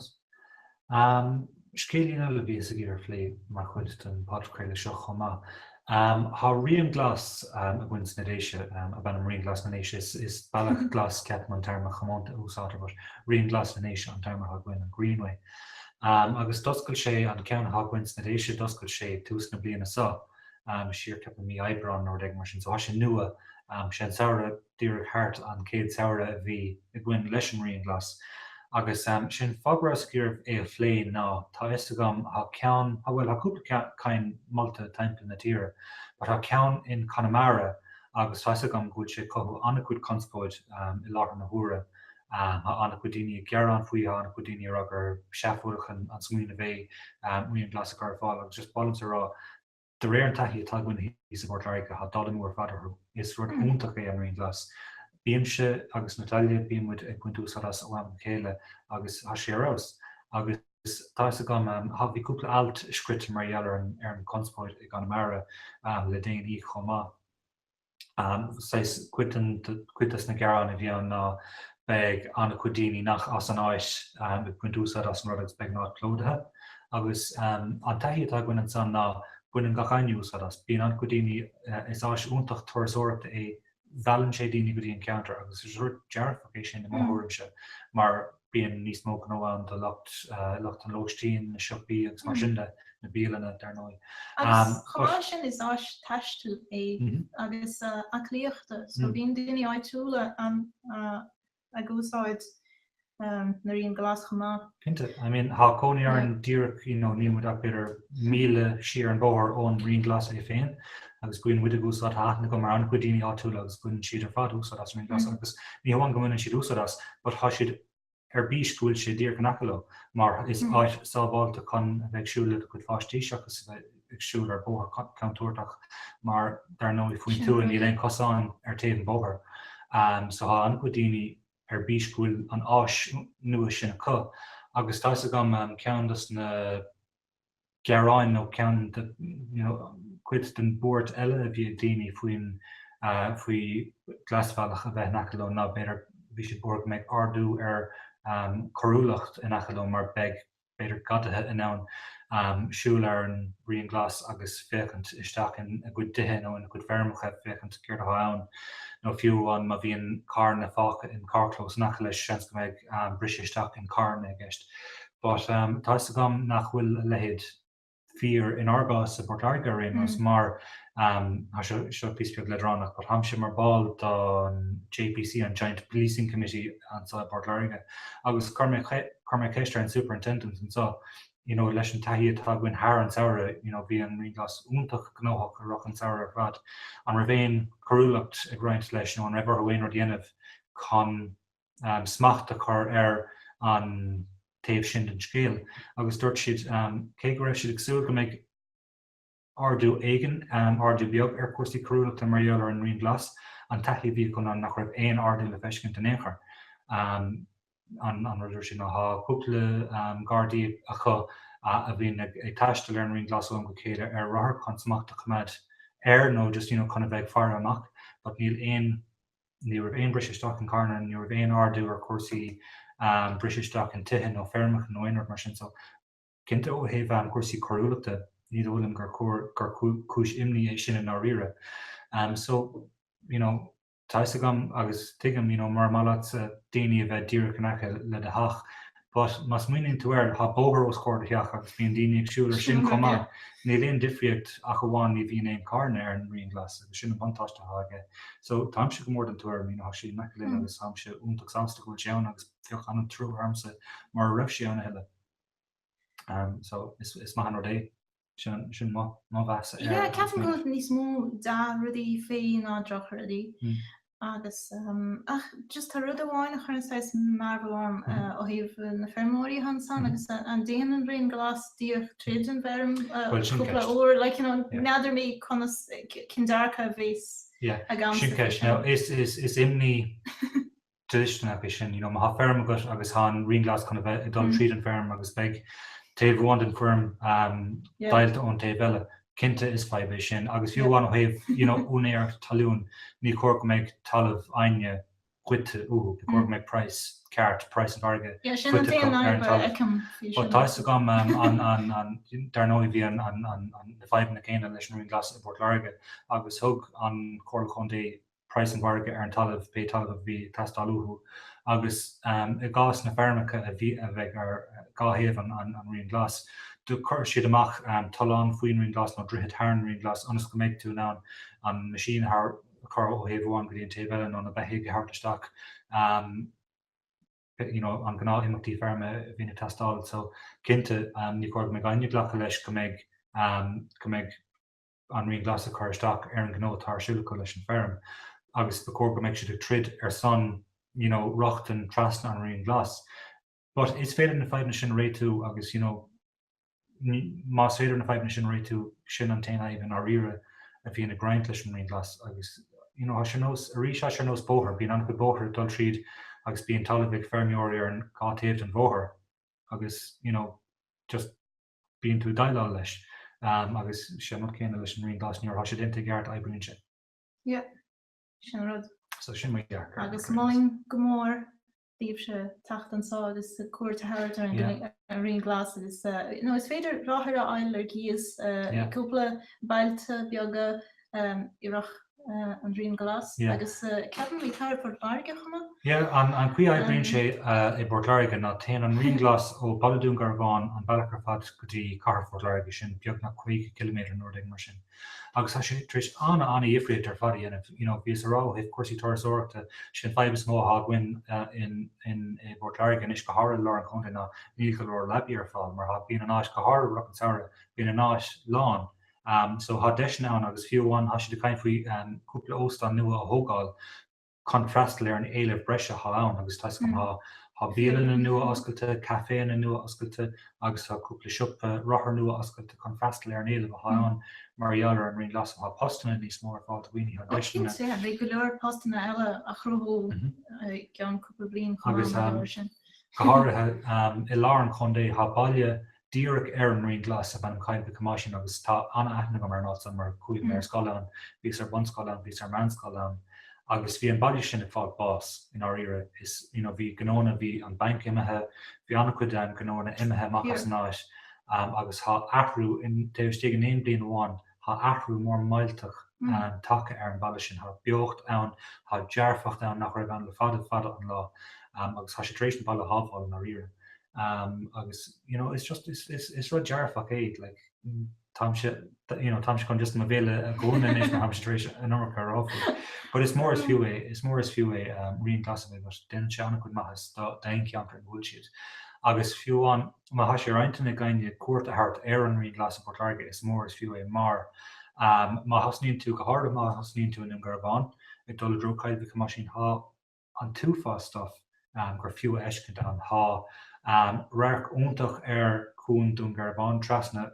Scéilín eile a bhíos ag iarraidh a phlé mar chuid den podchraoladh seo chomh maith. Tá Rian Glas againn sna Déise, ab ainm Rian Glas na nDéise, is Bealach Glas ceapaim an téarma chomónta a úsáidtear but Rian Glas na nDéise an téarma atá againn, an Greenway. Agus d'oscail sé, an ceann atá againn sna Déise, d'oscail sé ag tús na bliana seo, siar ceapaim mí Aibreán nó rud éigin mar sin, so tá sé nua, sé an samhradh, díreach thart an céad samhradh a bhí againn leis an Rian Glas, agus sin fáth go rabhas ag iarraidh é a phlé ná tá fhios agam thá ceann, bhuel thá cúpla ceann ceann molta timpeall na tíre, but thá ceann in Conamara agus tá fhios agam go bhfuil sé ag cothú an-chuid conspóid i láthair na huaire, thá an-chuid daoine ag gearán faoi, thá an-chuid daoine a rá gur seafóideach an smaoineamh é Rian Glas a chur ar fáil agus just mholaimse a rá, De réir an taithí atá againn thíos i bPort Láirge, tá dul amú ar fad orthu. Is rud iontach é an Rian Glas. Bímse agus Natalia, bíonn muid ag baint úsáid as ó am go chéile agus tá sé ar fheabhas. Agus tá fhios agam, bhí cúpla alt scríofa mar gheall ar an chonspóid i gConamara le déanaí chomh maith. saghas, cuid des na gearáin a bhí ann ná beidh an-chuid daoine nach as an áit ag baint úsáid as an rud agus beidh an áit plódaithe. Agus an taithí atá againn ansan ná baineann gach éinne úsáid as. Bíonn an-chuid daoine, is áis iontach turasóireachta é, meallann sé daoine go dtí an ceantar agus is rud dearfach é sin i mo thuairimse mar, bíonn níos mó gnó ann do lu lucht an lóistín, na siopaí agus mar sin de, na bialanna, dar ndóigh. Agus chomh maith leis sin, is áis taistil é agus aclaíochta, so bíonn daoine áitiúla ag úsáid an Rian Glas chomh maith. Cinnte, I mean, tá cónaí orainn díreach, you know, níl muid ach b'fhéidir míle siar an bóthar ón Rian Glas é féin, agus baineann muid úsáid as, tá aithne agam ar an-chuid daoine áitiúla agus baineann siad ar fad úsáid as an Rian Glas agus ní hamháin go mbaineann siad úsáid as but tá siad ar bís go bhfuil sé díreach in aice leo mar is áit sábháilte chun a bheith ag siúl le do chuid páistí seachas a bheith ag siúl ar bhóthar contúirteach mar dar ndóigh faoin tuath níl aon chosán ar taobh an bhóthair so tá an-chuid daoine ar bís go bhfuil an áis nua sin acu agus tá fhios agam ceann dos na gearáin nó ceann de, you know, cuid den bhuairt eile a bhí ag daoine faoin, faoi Glasbhealach a bheith in aice leo ná b'fhéidir bhí siad buartha go mbeadh ardú ar coiriúlacht in aice leo mar beidh b'fhéidir gadaithe in ann siúl ar an Rian Glas agus féachaint isteach in a gcuid dtithe nó in a gcuid feirmeacha féachaint céard atá ann nó fiú amháin má bhíonn carranna fágtha in carrchlós in aice leis seans go mbeidh briseadh isteach in carranna i gceist. But tá 'fhios agam nach bhfuil a leithéid fíor in ár gcás i bPort Láirge ar aon nós mar, tá seo, seo píosa beag leadránach, but táimse mar ball don JPC, an Joint Policing Committee anso i bPort Láirge agus chuir mé, chuir mé ceist ar an superintendent anso you know leis an taithí atá againn thar an samhradh you know bhí an Rian Glas iontach gnóthach i rith an samhradh ar fad, an raibh aon choiriúlacht ag roinnt leis nó an raibh orthu aon rud a dhéanamh chun smacht a chur ar an taobh sin den scéal agus dúirt siad cé go raibh siad ag súil go mbeidh ardú éigin, ardú beag ar chúrsaí coiriúlachta mar gheall ar an Rian Glas, an taithí a bhí acu ná nach raibh aon ardú le feiscint in aon chor. An rud a dúirt siad ná tá cúpla Gardaí acu a bhíonn ag taisteal ar an Rian Glas ó am go chéile ar rothar chun smacht a choimeád air nó just, you know, chun a bheith ag faire amach but níl aon ní raibh aon briseadh isteach in carranna, ní raibh aon ardú ar chúrsaí, briseadh isteach in tithe nó feirmeacha nó aon rud mar sin. So, cinnte ó thaobh cúrsaí coiriúlachta, ní dóigh liom gur gur cúis imní é sin i ndáiríre. So, you know, tá fhios agam agus tuigim, you know, mura maith leatsa daoine a bheith díreach in aice le do theach, But má smaoiníonn tú air, thá bóthar os comhair do theach agus bíonn daoine ag siúl air sin chomh maith. Níl aon difríocht ach amháin ní bhíonn aon charranna ar an rian glas agus sin an buntáiste atá aige. So, táimse go mór den tuairim, you know, thá sí in aice linn agus táimse iontach sásta go bhfuil sé ann agus bheadh an-trua ormsa mura raibh sí ann a thuilleadh. So, is maith an rud é. Sin mo mheas air. Yeah, ceapaim go bhfuil níos mó dea-rudaí faoi ná drochrudaí. Agus, ach, just tá rud amháin a chuireann saghas mearbhall orm ó thaobh na feirmeoirí ansan agus an dtéann an Rian Glas díreach tríd an bhfeirm cúpla uair, like, you know, n'fheadar mé conas, cén dearcadh a bheas agam sa bhfeirm. Sin ceist. Now, is imní dlisteanach é sin, you know, má thá feirm agat agus thá an Rian Glas chun a bheith ag dul tríd an feirm agus beidh taobh amháin den feirm deighilte ón taobh eile, cinnte is fadhb é sin agus fiú amháin ó thaobh, you know, úinéireacht talún, ní cóir go mbeidh talamh éinne goidte uathu, ba chóir go mbeidh praghas ceart, praghas an mhargaidh, curtha ar an talamh. But tá fhios agam an, an, an, dar ndóigh bhí an, an, an, na fadhbanna céanna leis an Rian Glas i bPort Láirge agus thug an Comhairle Contae praghas an mhargaidh ar an talamh, pé talamh a bhí ag teastáil uathu, agus i gcás na bhfeirmeacha a bheadh ar dhá thaobh an Rian Glas, do chuir siad amach tollán faoin Rian Glas, nó droichead thar an Rian Glas, ionas go mbeidh tú in ann an meaisín a chur ó thaobh amháin go dtí an taobh eile, nó na beithígh a thabhairt isteach, you know, an gnáth imeachtaí feirme a bhíonn ag teastáil. So, cinnte, ní chóir go mbeidh éinne ag glacadh leis go mbeidh, go mbeidh, an Rian Glas ag cur isteach ar an gnó atá ar siúl acu leis an bhfeirm agus ba chóir go mbeadh siad ag troid ar son you know rochtain trasna an Rian Glas. But is féidir na fadhbanna sin a réitiú agus you know ní, más féidir na fadhbanna sin a réitiú, sin an t-aon fhadhb i ndáiríre a bhíonn ag roinnt leis an Rian Glas agus you know is ar nós, arís is ar nós bóthair, bíonn an-chuid bóthair ag dul tríd agus bíonn talamh ag feirmeoirí ar an dhá taobh den bhóthar agus you know just. bíonn tú ag déileáil leis agus is é an rud céanna leis an Rian Glas, nuair athá sé déanta i gceart oibríonn sé. Yep, sin an rud. So sin mo dhearcadh. Agus mholfainn go mór daoibhse teacht anso agus cuairt a thabhairt ar an Rian Glas agus, you know, is féidir rothair a fháil ar cíos i gcúpla bailte beaga i rith an Rian Glas agus ceapaim i gcathair Phort Láirge chomh maith. Yeah, an chaoi oibríonn sé i bPort Láirge ná téann an Rian Glas ó Baile Dún Garbhán, an bealach ar fad go dtí cathair Phort Láirge, sin beagnach 50 km nó rud mar sin, agus tá sé tar éis ana ana dhifríocht ar fad a dhéanamh, you know, bhíos ag rá ó thaobh cúrsaí turasóireachta, sé an fadhb is mó athá againn in i bPort Láirge anois, go háirithe i lár an chontae ná níl go leor leabaidh ar fáil, mar thá, bíonn an áit go háirithe i rith an samhradh, bíonn an áit lán, so thá deiseanna ann agus fiú amháin thá siad ag caint faoi cúpla óstán nua a thógáil chun freastal ar an éileamh breise athá ann agus tá a fhios agam thá thá bialanna nua oscailte, caiféanna nua oscailte agus thá cúpla siopa rothar nua oscailte chun freastal ar an éileamh athá ann mar gheall ar an Rian Glas thá postanna níos mó ar fáil do dhaoine thá deiseanna. Ó cinnte, beidh go leor postanna eile á chruthú i gceann cúpla bliain chomh maith. Go háirithe i lár an chontae thá baile díreach ar an Rian Glas ab ainm Coill Mhic Thomáisín agus tá an-aithne agam ar an áit san mar chuaigh mé ar scoil ann, bhíos ar bunscoil ann, bhíos ar mheánscoil ann agus bhí an baile sin ag fáil bás i ndáiríre. Is you know bhí gnóanna, bhí an banc imithe, bhí an-chuid de na gnóanna imithe amach as an áit agus tá athrú in taobh istigh in aon bliain amháin Thá athrú mór millteach tagtha ar an bhaile sin. Thá beocht ann, thá dearfacht ann nach raibh ann le fada fada an lá agus tá sé tar éis an baile a shábháil i ndáiríre. Agus you know is just is rud dearfach é like táimse you know táimse chun just mo bhéal a dhúnadh anois mar táimse tar éis an iomarca a rá faoi. But is mór is fiú é, is mór is fiú é rian glas a bheith agat, déanann sé an-chuid maitheas d'aon cheantar ina bhfuil siad. Agus fiú amháin Má thá sé ar intinn ag éinne cuairt a thabhairt ar an Rian Glas i bPort Láirge is mór is fiú é mar má thosnaíonn tú, go háirithe má thosnaíonn tú i nDún Garbhán, ag dul i dtreo Coill Mhic Thomáisín thá an t-uafás stuif gur fiú a fheiscint ann. Thá radharc iontach ar chuan Dún Garbhán trasna,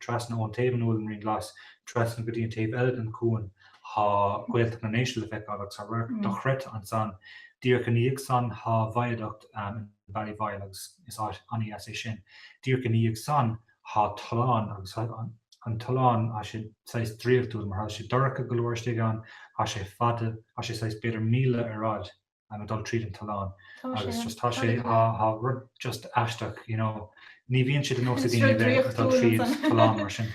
trasna ón taobh ina bhfuil an Rian Glas, trasna go dtí an taobh eile den chuan thá Gaeltacht na nDéise le feiceáil agus thá radharc dochreidthe ansan. Díreach i ndiaidh san thá Viaduct in. Ballyvoyle agus is ana dheas é sin. Díreach ina dhiaidh san thá tollán agus thá an tollán, thá sé saghas draíochtúil, mar thá sé dorcha go leor istigh ann, thá sé fada, thá sé saghas b'fhéidir míle ar fhaid ag dul tríd an tollán agus just thá sé, thá rud just aisteach, you know. Ní bhíonn sé de nós ag daoine a bheith ag dul tríd tollán mar sin.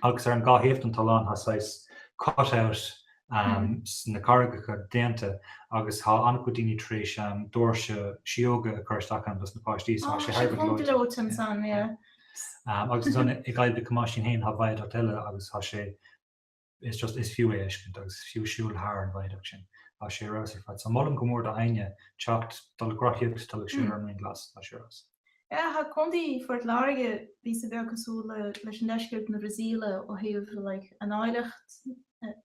agus ar an dá thaobh don tollán thá saghas cut out sna carraigeacha déanta agus thá an-chuid daoine tar éis doirse sióga a chur isteach ann do sna páistí so thá sé thar a bheith gleoite. Thá sé gleoite ansan, yeah. Agus ansan i gCoill Mhic Thomáisín fhéin thá viaduct eile agus thá sé is just is fiú é a fheiscint agus fiú siúl thar an viaduct sin thá sé ar fheabhas ar fad so molaim go mór do éinne teacht dul ag rothaíocht dul ag siúl ar an Rian Glas thá sé ar fheabhas. Thá Contae Phort Láirge píosa beag cosúil leis an deisceart na Brasaíle ó thaobh an áilleacht,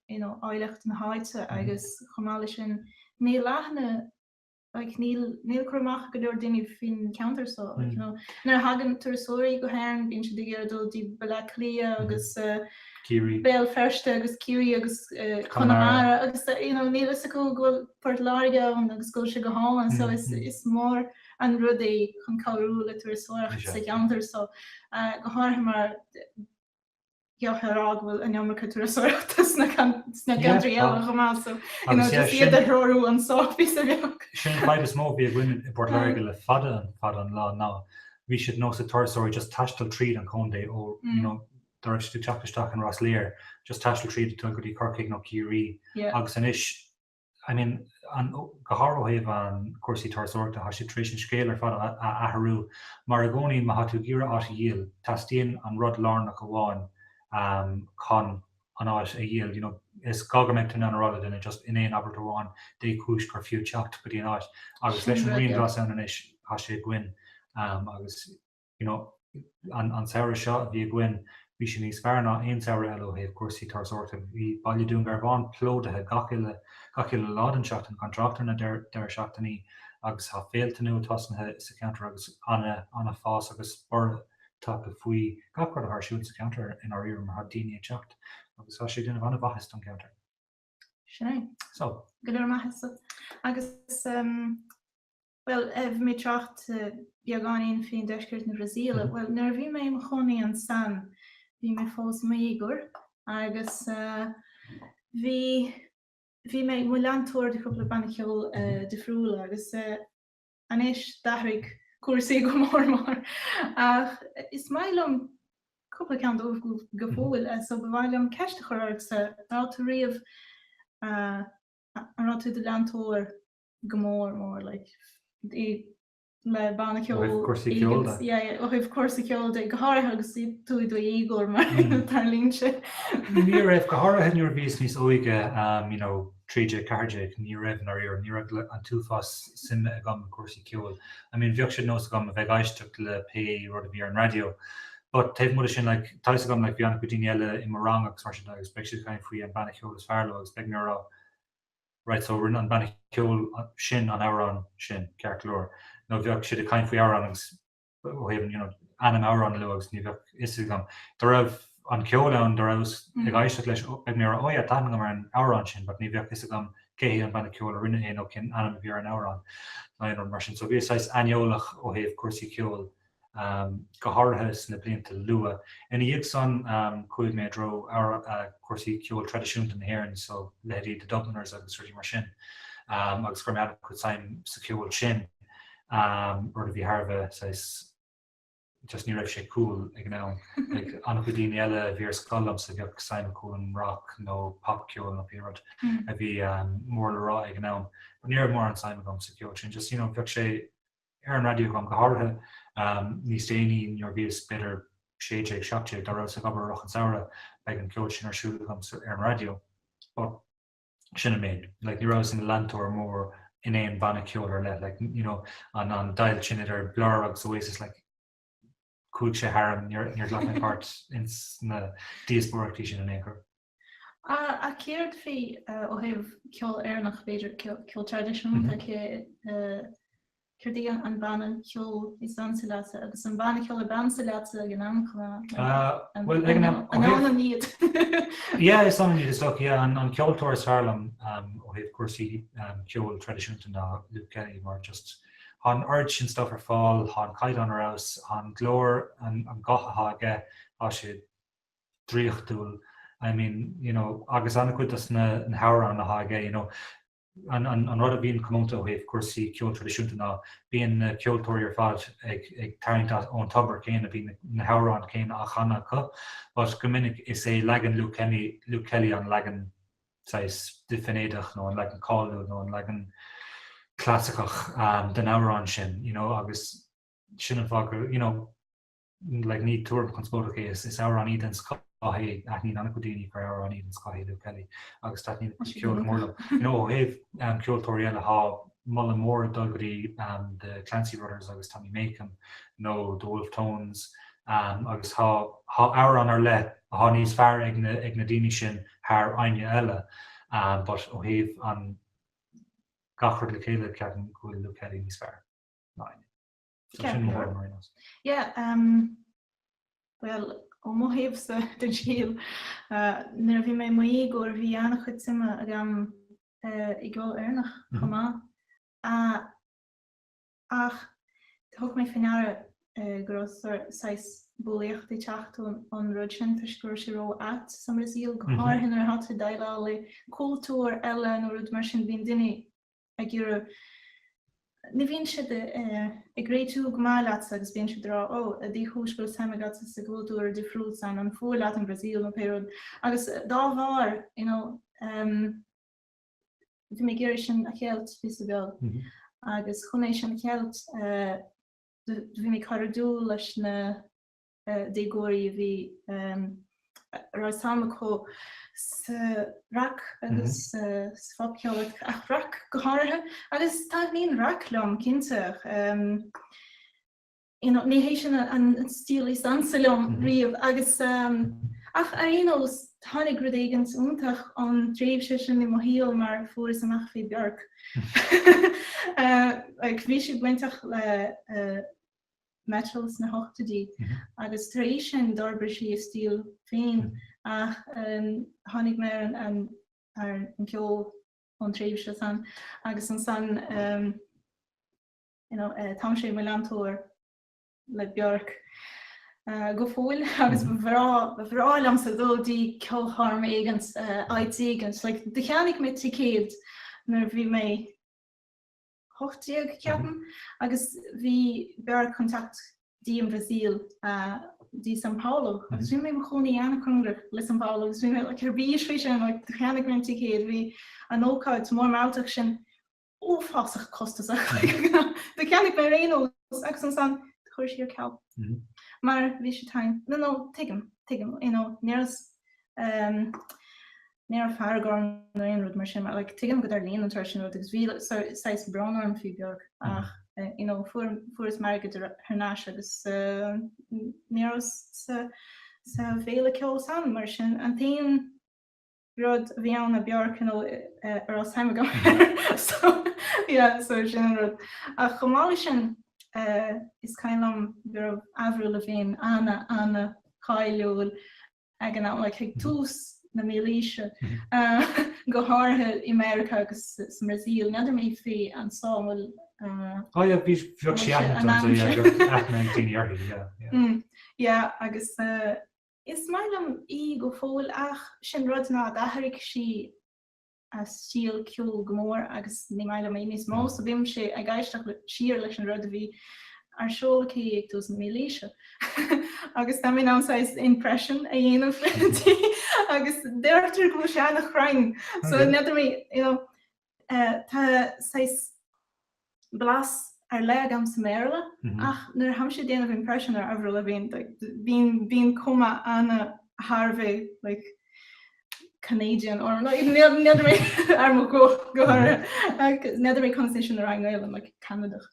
you know, áilleacht na háite agus chomh maith leis sin níl aithne, like, níl, níl cur amach go leor daoine faoin cheantar so, like, you know, nuair a thagann turasóirí go hÉirinn bíonn siad ag iarraidh dul dtí Baile Átha Cliath agus Ciarraí, Béal Feirste agus Ciarraí agus Conamara agus, you know, níl a fhios acu go bhfuil Port Láirge ann agus go bhfuil sé go hálainn so is, is mór. an rud é chun cabhrú le turasóireacht sa cheantar so, go háirithe mar gheall ar fháth go bhfuil an iomarca turasóireachta sna ceantraí eile chomh maith so, you know, just iad a threorú anso, píosa beag. Sin an fadhb is mó a bhí againn i bPort Láirge le fada an lá ná bhí sé de nós ag turasóirí just taisteal tríd an chontae ó, you know, dá raibh siad ag teacht isteach in Ros Láir, just taisteal tríd go dtí Corcaigh nó Ciarraí, agus anois I mean, an, go háirithe ó thaobh an cúrsaí turasóireachta, thá siad tar éis an scéal ar fad a athrú. Mar i gcónaí, má thá tú ag iarraidh áit a dhíol, teastaíonn an rud lárnach amháin chun an áit a dhíol, you know. Is gá go mbeadh tú in ann a rá le duine, just in aon abairt amháin, dé chúis gur fiú teacht go dtí an áit. Agus leis an Rian Glas ann anois, thá sé againn agus. you know, an samhradh seo a bhí againn, bhí sé níos fearr ná aon samhradh eile ó thaobh cúrsaí turasóireachta. Bhí Baile Dún Garbhán plódaithe gach uile, gach uile lá den seachtain, gan trácht ar na deireadh seachtainí agus thá féilte nua tosnaithe sa cheantar agus ana, ana fás agus borradh tagtha faoi gach rud athá ar siúl sa cheantar i ndáiríre mar thá daoine ag teacht agus thá sé ag déanamh ana mhaitheas don cheantar. Sin é. So. Go leor maitheasa. Agus um, Bhuel, bhí mé ag trácht beagáinín faoin deisceart na Brasaíle. Bhuel, nuair a bhí mé i mo chónaí ansan, bhí mé fós i mo dhéagóir agus bhí bhí mé i mo leantóir de chúpla bannaí ceoil difriúla agus anois d'athraigh cúrsaí go mór mór ach is maith liom cúpla ceann dóibh go fóill so ba mhaith liom ceist a chur ortsa, an raibh tú riamh, an raibh tú i do leantóir? go mór mór like le banna ceoil Ó thaobh cúrsaí ceoil de. yeah yeah ó thaobh cúrsaí ceoil de go háirithe agus tú i do dhéagóir mar Mm. dar línse. Ní raibh, go háirithe nuair a bhíos níos óige um you know trí déag ceathair déag ní raibh nár iarraim, ní raibh an t-uafás suime agam i gcúrsaí ceoil. I mean bheadh sé de nós agam a bheith ag éisteacht le pé rud a bhí ar an raidió. But taobh amuigh de sin like tá a fhios agam like bhí an-chuid daoine eile i mo rang agus mar sin de agus bheadh siad ag caint faoi an banna ceoil is fearr leo agus bheadh mé ag rá Right, so rinne an banna ceoil sin an amhrán sin, ceart go leor, nó bheadh siad ag caint faoi amhrán agus ó thaobh an, you know, ainm amhrán a lua agus ní bheadh fhios agam, dá raibh an ceol ann dá rabhas ag éisteacht leis, bheadh mé ag rá, oh yeah, tá aithne agam ar an amhrán sin but ní bheadh fhios agam cé hí an banna ceoil a rinne é nó cén ainm a bhí ar an amhrán nó aon rud mar sin. So bhíos saghas aineolach ó thaobh cúrsaí ceoil go háirithe sna blianta luatha. Ina dhiaidh san chuaigh mé i dtreo chúrsaí ceoil traidisiúnta na hÉireann, so leithéidí The Dubliners agus rudaí mar sin, agus chuir mé an-chuid suim sa cheol sin, rud a bhí thar a bheith, saghas, just ní raibh sé cool ag an am. Like an-chuid daoine eile a bhí ar scoil liomsa, bheadh suim acu in rock nó popcheol nó pé rud a bhí mór le rá ag an am, but ní raibh mórán suim agam sa cheol sin, just, you know, bheadh sé, ar an raidió agam, go háirithe níos déanaí nuair a bhíos, b'fhéidir, sé déag, seacht déag, dá rabhas ag obair i rith an tsamhraidh, bheadh an ceol sin ar siúl agam ar an raidió. But sin an méid. Like, ní rabhas ina leantóir mór in aon bhanna ceoil ar leith, like, you know, an, an deighilt sin idir Blur agus Oasis, like, chuaigh sé tharam, níor, níor ghlac mé páirt ins na díospóireachtaí sin in aon chor. Ach céard faoi, ó thaobh ceol Éireannach, b'fhéidir, ceol traidisiúnta, céard í an banna ceoil is ansa leatsa agus an banna ceoil ab ansa leatsa ag an am chomh maith? Bhuel, ag an am, ó thaobh. An ionann iad. Yeah, is ionann iad is dócha, yeah. An ceoltóir is fearr liom ó thaobh cúrsaí ceoil traidisiúnta ná Luke Kelly mar just thá an oiread sin stuif ar fáil, thá an caighdeán ar fheabhas, thá an glór an guth athá aige, tá sé draíochtúil, I mean, you know, agus an-chuid dos na hamhráin atá aige, you know, an an rud a bhíonn comónta ó thaobh cúrsaí ceoil traidisiúnta ná bíonn na ceoltóirí ar fad ag ag tarraingt ón tobar céanna, bíonn na hamhráin céanna á chanadh acu, but go minic is é leagan Luke Kelly an leagan saghas deifinídeach nó an leagan cáiliúil nó an leagan clasaiceach den amhrán sin, you know, agus sin an fáth gur, you know, Ní tuairim chonspóideach é, is amhránaí den scoth é, aithníonn an-chuid daoine gur amhránaí den scoth é Luke Kelly agus taitníonn a chuid ceoil go mór liom. Ó thaobh ceoltóirí eile, tá moladh mór ag dul go go dtí The Clancy Brothers agus Tommy Makem nó The Wolfe Tones agus tá amhrán ar leith atá níos fearr ag na daoine sin thar éinne eile but ó thaobh gach rud le chéile, ceapaim go bhfuil Luke Kelly níos fearr ná éinne. Bhuel, ó mo thaobhsa den scéal, nuair a bhí mé i mo dhéagóir bhí an-chuid suime agam i gceol Éireannach chomh maith. Ach thug mé faoi ndeara go raibh saghas bulaíochta ag teacht ón rud sin toisc go raibh sé ró-ait sa mBrasaíl, go háirithe nuair atá tú ag déileáil le cultúir eile nó rud mar sin. Bíonn daoine ag iarraidh Ní bhíonn siad ag réitiú go maith leatsa agus bíonn siad ag rá, Ó, cad ina thaobh go bhfuil suim agat sa gcultúr difriúil san, an fuath leat an Brasaíl nó pé rud agus dá bharr, you know, bhí mé ag iarraidh sin a cheilt píosa beag agus chun é sin a cheilt do bhí mé ag cur in iúl leis na déagóirí a bhí a raibh suim acu sa rac agus sa phopcheol, ach rac go háirithe, agus taitníonn rac liom cinnte, you know, ní hé sin an stíl is ansa liom riamh, agus ach ar aon nós tháinig rud éigin iontach ón dtréimhse sin i mo shaol mar fuaireas amach faoi Björk, like bhí sí bainteach le Metal sna hochtóidí agus tar éis sin d'fhorbair sí a stíl féin ach tháinig mé ar an ar an ceol ón tréimhse san agus ansan you know táimse i mo leantóir le Björk go fóill agus ba bhreá ba bhreá liomsa dul dtí ceolchoirm éigin áit éigin like cheannaigh mé ticéad nuair a bhí mé 18, ceapaim, agus bhí Björk chun teacht dtí an Bhrasaíl, dtí São Paulo, agus bhí mé i mo chónaí an-chóngarach le São Paulo, agus bhí mé, like, ar bís faoi sin, like, cheannaigh mé an ticéad, bhí an ócáid mórmhaíteach sin uafásach costasach, like, cheannaigh mé ar aon nós, agus ansan chuir sí ar ceal, mar bhí sí tinn, no, no, tuigim, tuigim, you know, níor fhos, ehm. Ní raibh fearg orm nó aon rud mar sin, mar like tuigim go dtarlaíonn an tsórt sin rud agus bhí saghas brón orm faoi Björk ach you know fuaireas m'airgead thar n-ais agus ní rabhas sa bhféile ceoil san. Mar sin an t-aon rud a bhí ann ná Björk you know a raibh suim agam so yeah so sin an rud. Ach chomh maith leis sin is cuimhin liom go raibh Avril Lavigne ana ana cáiliúil ag an am, like ag tús na mílaoise, go háirithe i Meiriceá agus sa mBrasaíl, n'fheadar mé fé anso an bhfuil, Ó yeah, bhí, bheadh sé aithne ann do, yeah, bheadh aithne ag daoine uirthi, yeah, yeah. mm, yeah, agus is maith liom í go fóill ach is é an rud ná d'athraigh sí. a stíl ceoil go mór agus ní maith liom é níos mó so bhímse ag éisteacht siar leis an rud a bhí ar siúl aici ag tús na mílaoise agus tá mé in ann saghas impression a dhéanamh di agus deirtear go bhfuil sé ana chruinn so n'fheadar mé you know tá saghas blas ar leith agam sa mBéarla ach nuair a tháimse ag déanamh impression ar Avril Lavigne like bíonn bíonn cuma ana thar a bheith like Canadian or like n'fheadar mé ar mo ghuth n'fheadar mé conas é sin a rá i nGaeilge like Ceanadach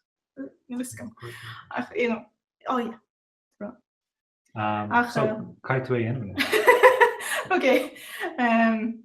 ach you know oh yeah um, so, uh, Kai Tui anyway. okay. Um,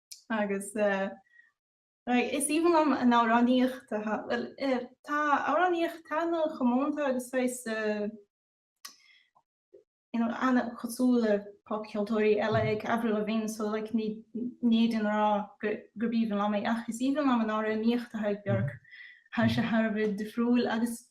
agus is aoibhinn liom an amhránaíocht a thá, bhuel, tá amhránaíocht, atá ana chomónta agus saghas, you know, ana, cosúil le popcheoltóirí eile ag Avril Lavigne, so like ní, ní fhéadfainn a rá gurb aoibhinn liom é, ach is aoibhinn liom an amhránaíocht a thá ag Björk, thá sé thar a bheith difriúil agus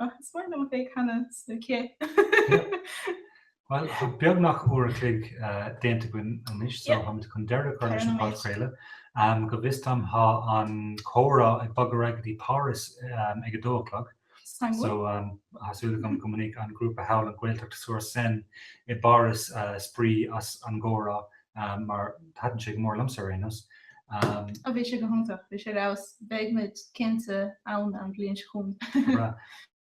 Ach is maith liom a bheith ag canadh sa chith. Bhuel, tá beagnach uair a chloig déanta againn anois, so táimid chun deireadh a chur leis an phodchraoladh. Go bhfios dom, tá an comhrá ag bogadh ar aghaidh go dtí Páras ag a dó a chlog, so tá súil agam go mbainfidh an grúpa thall, an Ghaeltacht-sur-Seine i bPáras, spraoi as an gcomhrá mar thaitin sé go mór liomsa ar aon nós. Ó, bhí sé go hiontach, bhí sé ar fheabhas, beidh muid cinnte ann an bhliain seo chugainn. Go breá.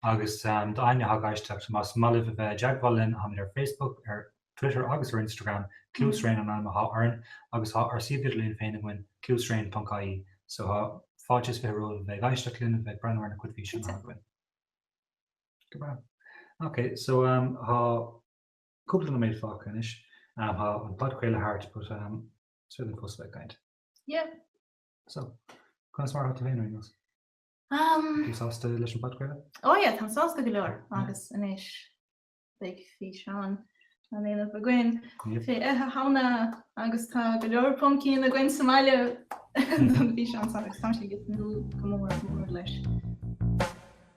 Agus d'éinne a thá ag éisteacht, más maith libh a bheith i dteagmháil linn, táimid ar Facebook, ar Twitter agus ar Instagram, Cluasraon an ainm atá orainn, agus tá ár suíomh idirlín féin againn, cluasraon.ie, so tá fáilte is fiche romhaibh a bheith ag éisteacht linn, a bheith ag breathnú ar na cuid físeanna atá againn. Go breá. Ok, so tá. Cúpla nóiméad fágtha anois. Ahem, tá an podchraoladh thart but ehm, is féidir liom fós a bheith ag caint. Yeah. So, conas mar atá tú féin ar an nós? Um, Tú sásta leis an podchraoladh? ó oh, yeah, tá sásta go leor Yeah. agus anois beidh físeán á dhéanamh againn Yep. faoi Oíche Shamhna agus tá go leor pumpkin againn sábháilte don físeán agus tá sé go nó gomór mór leis.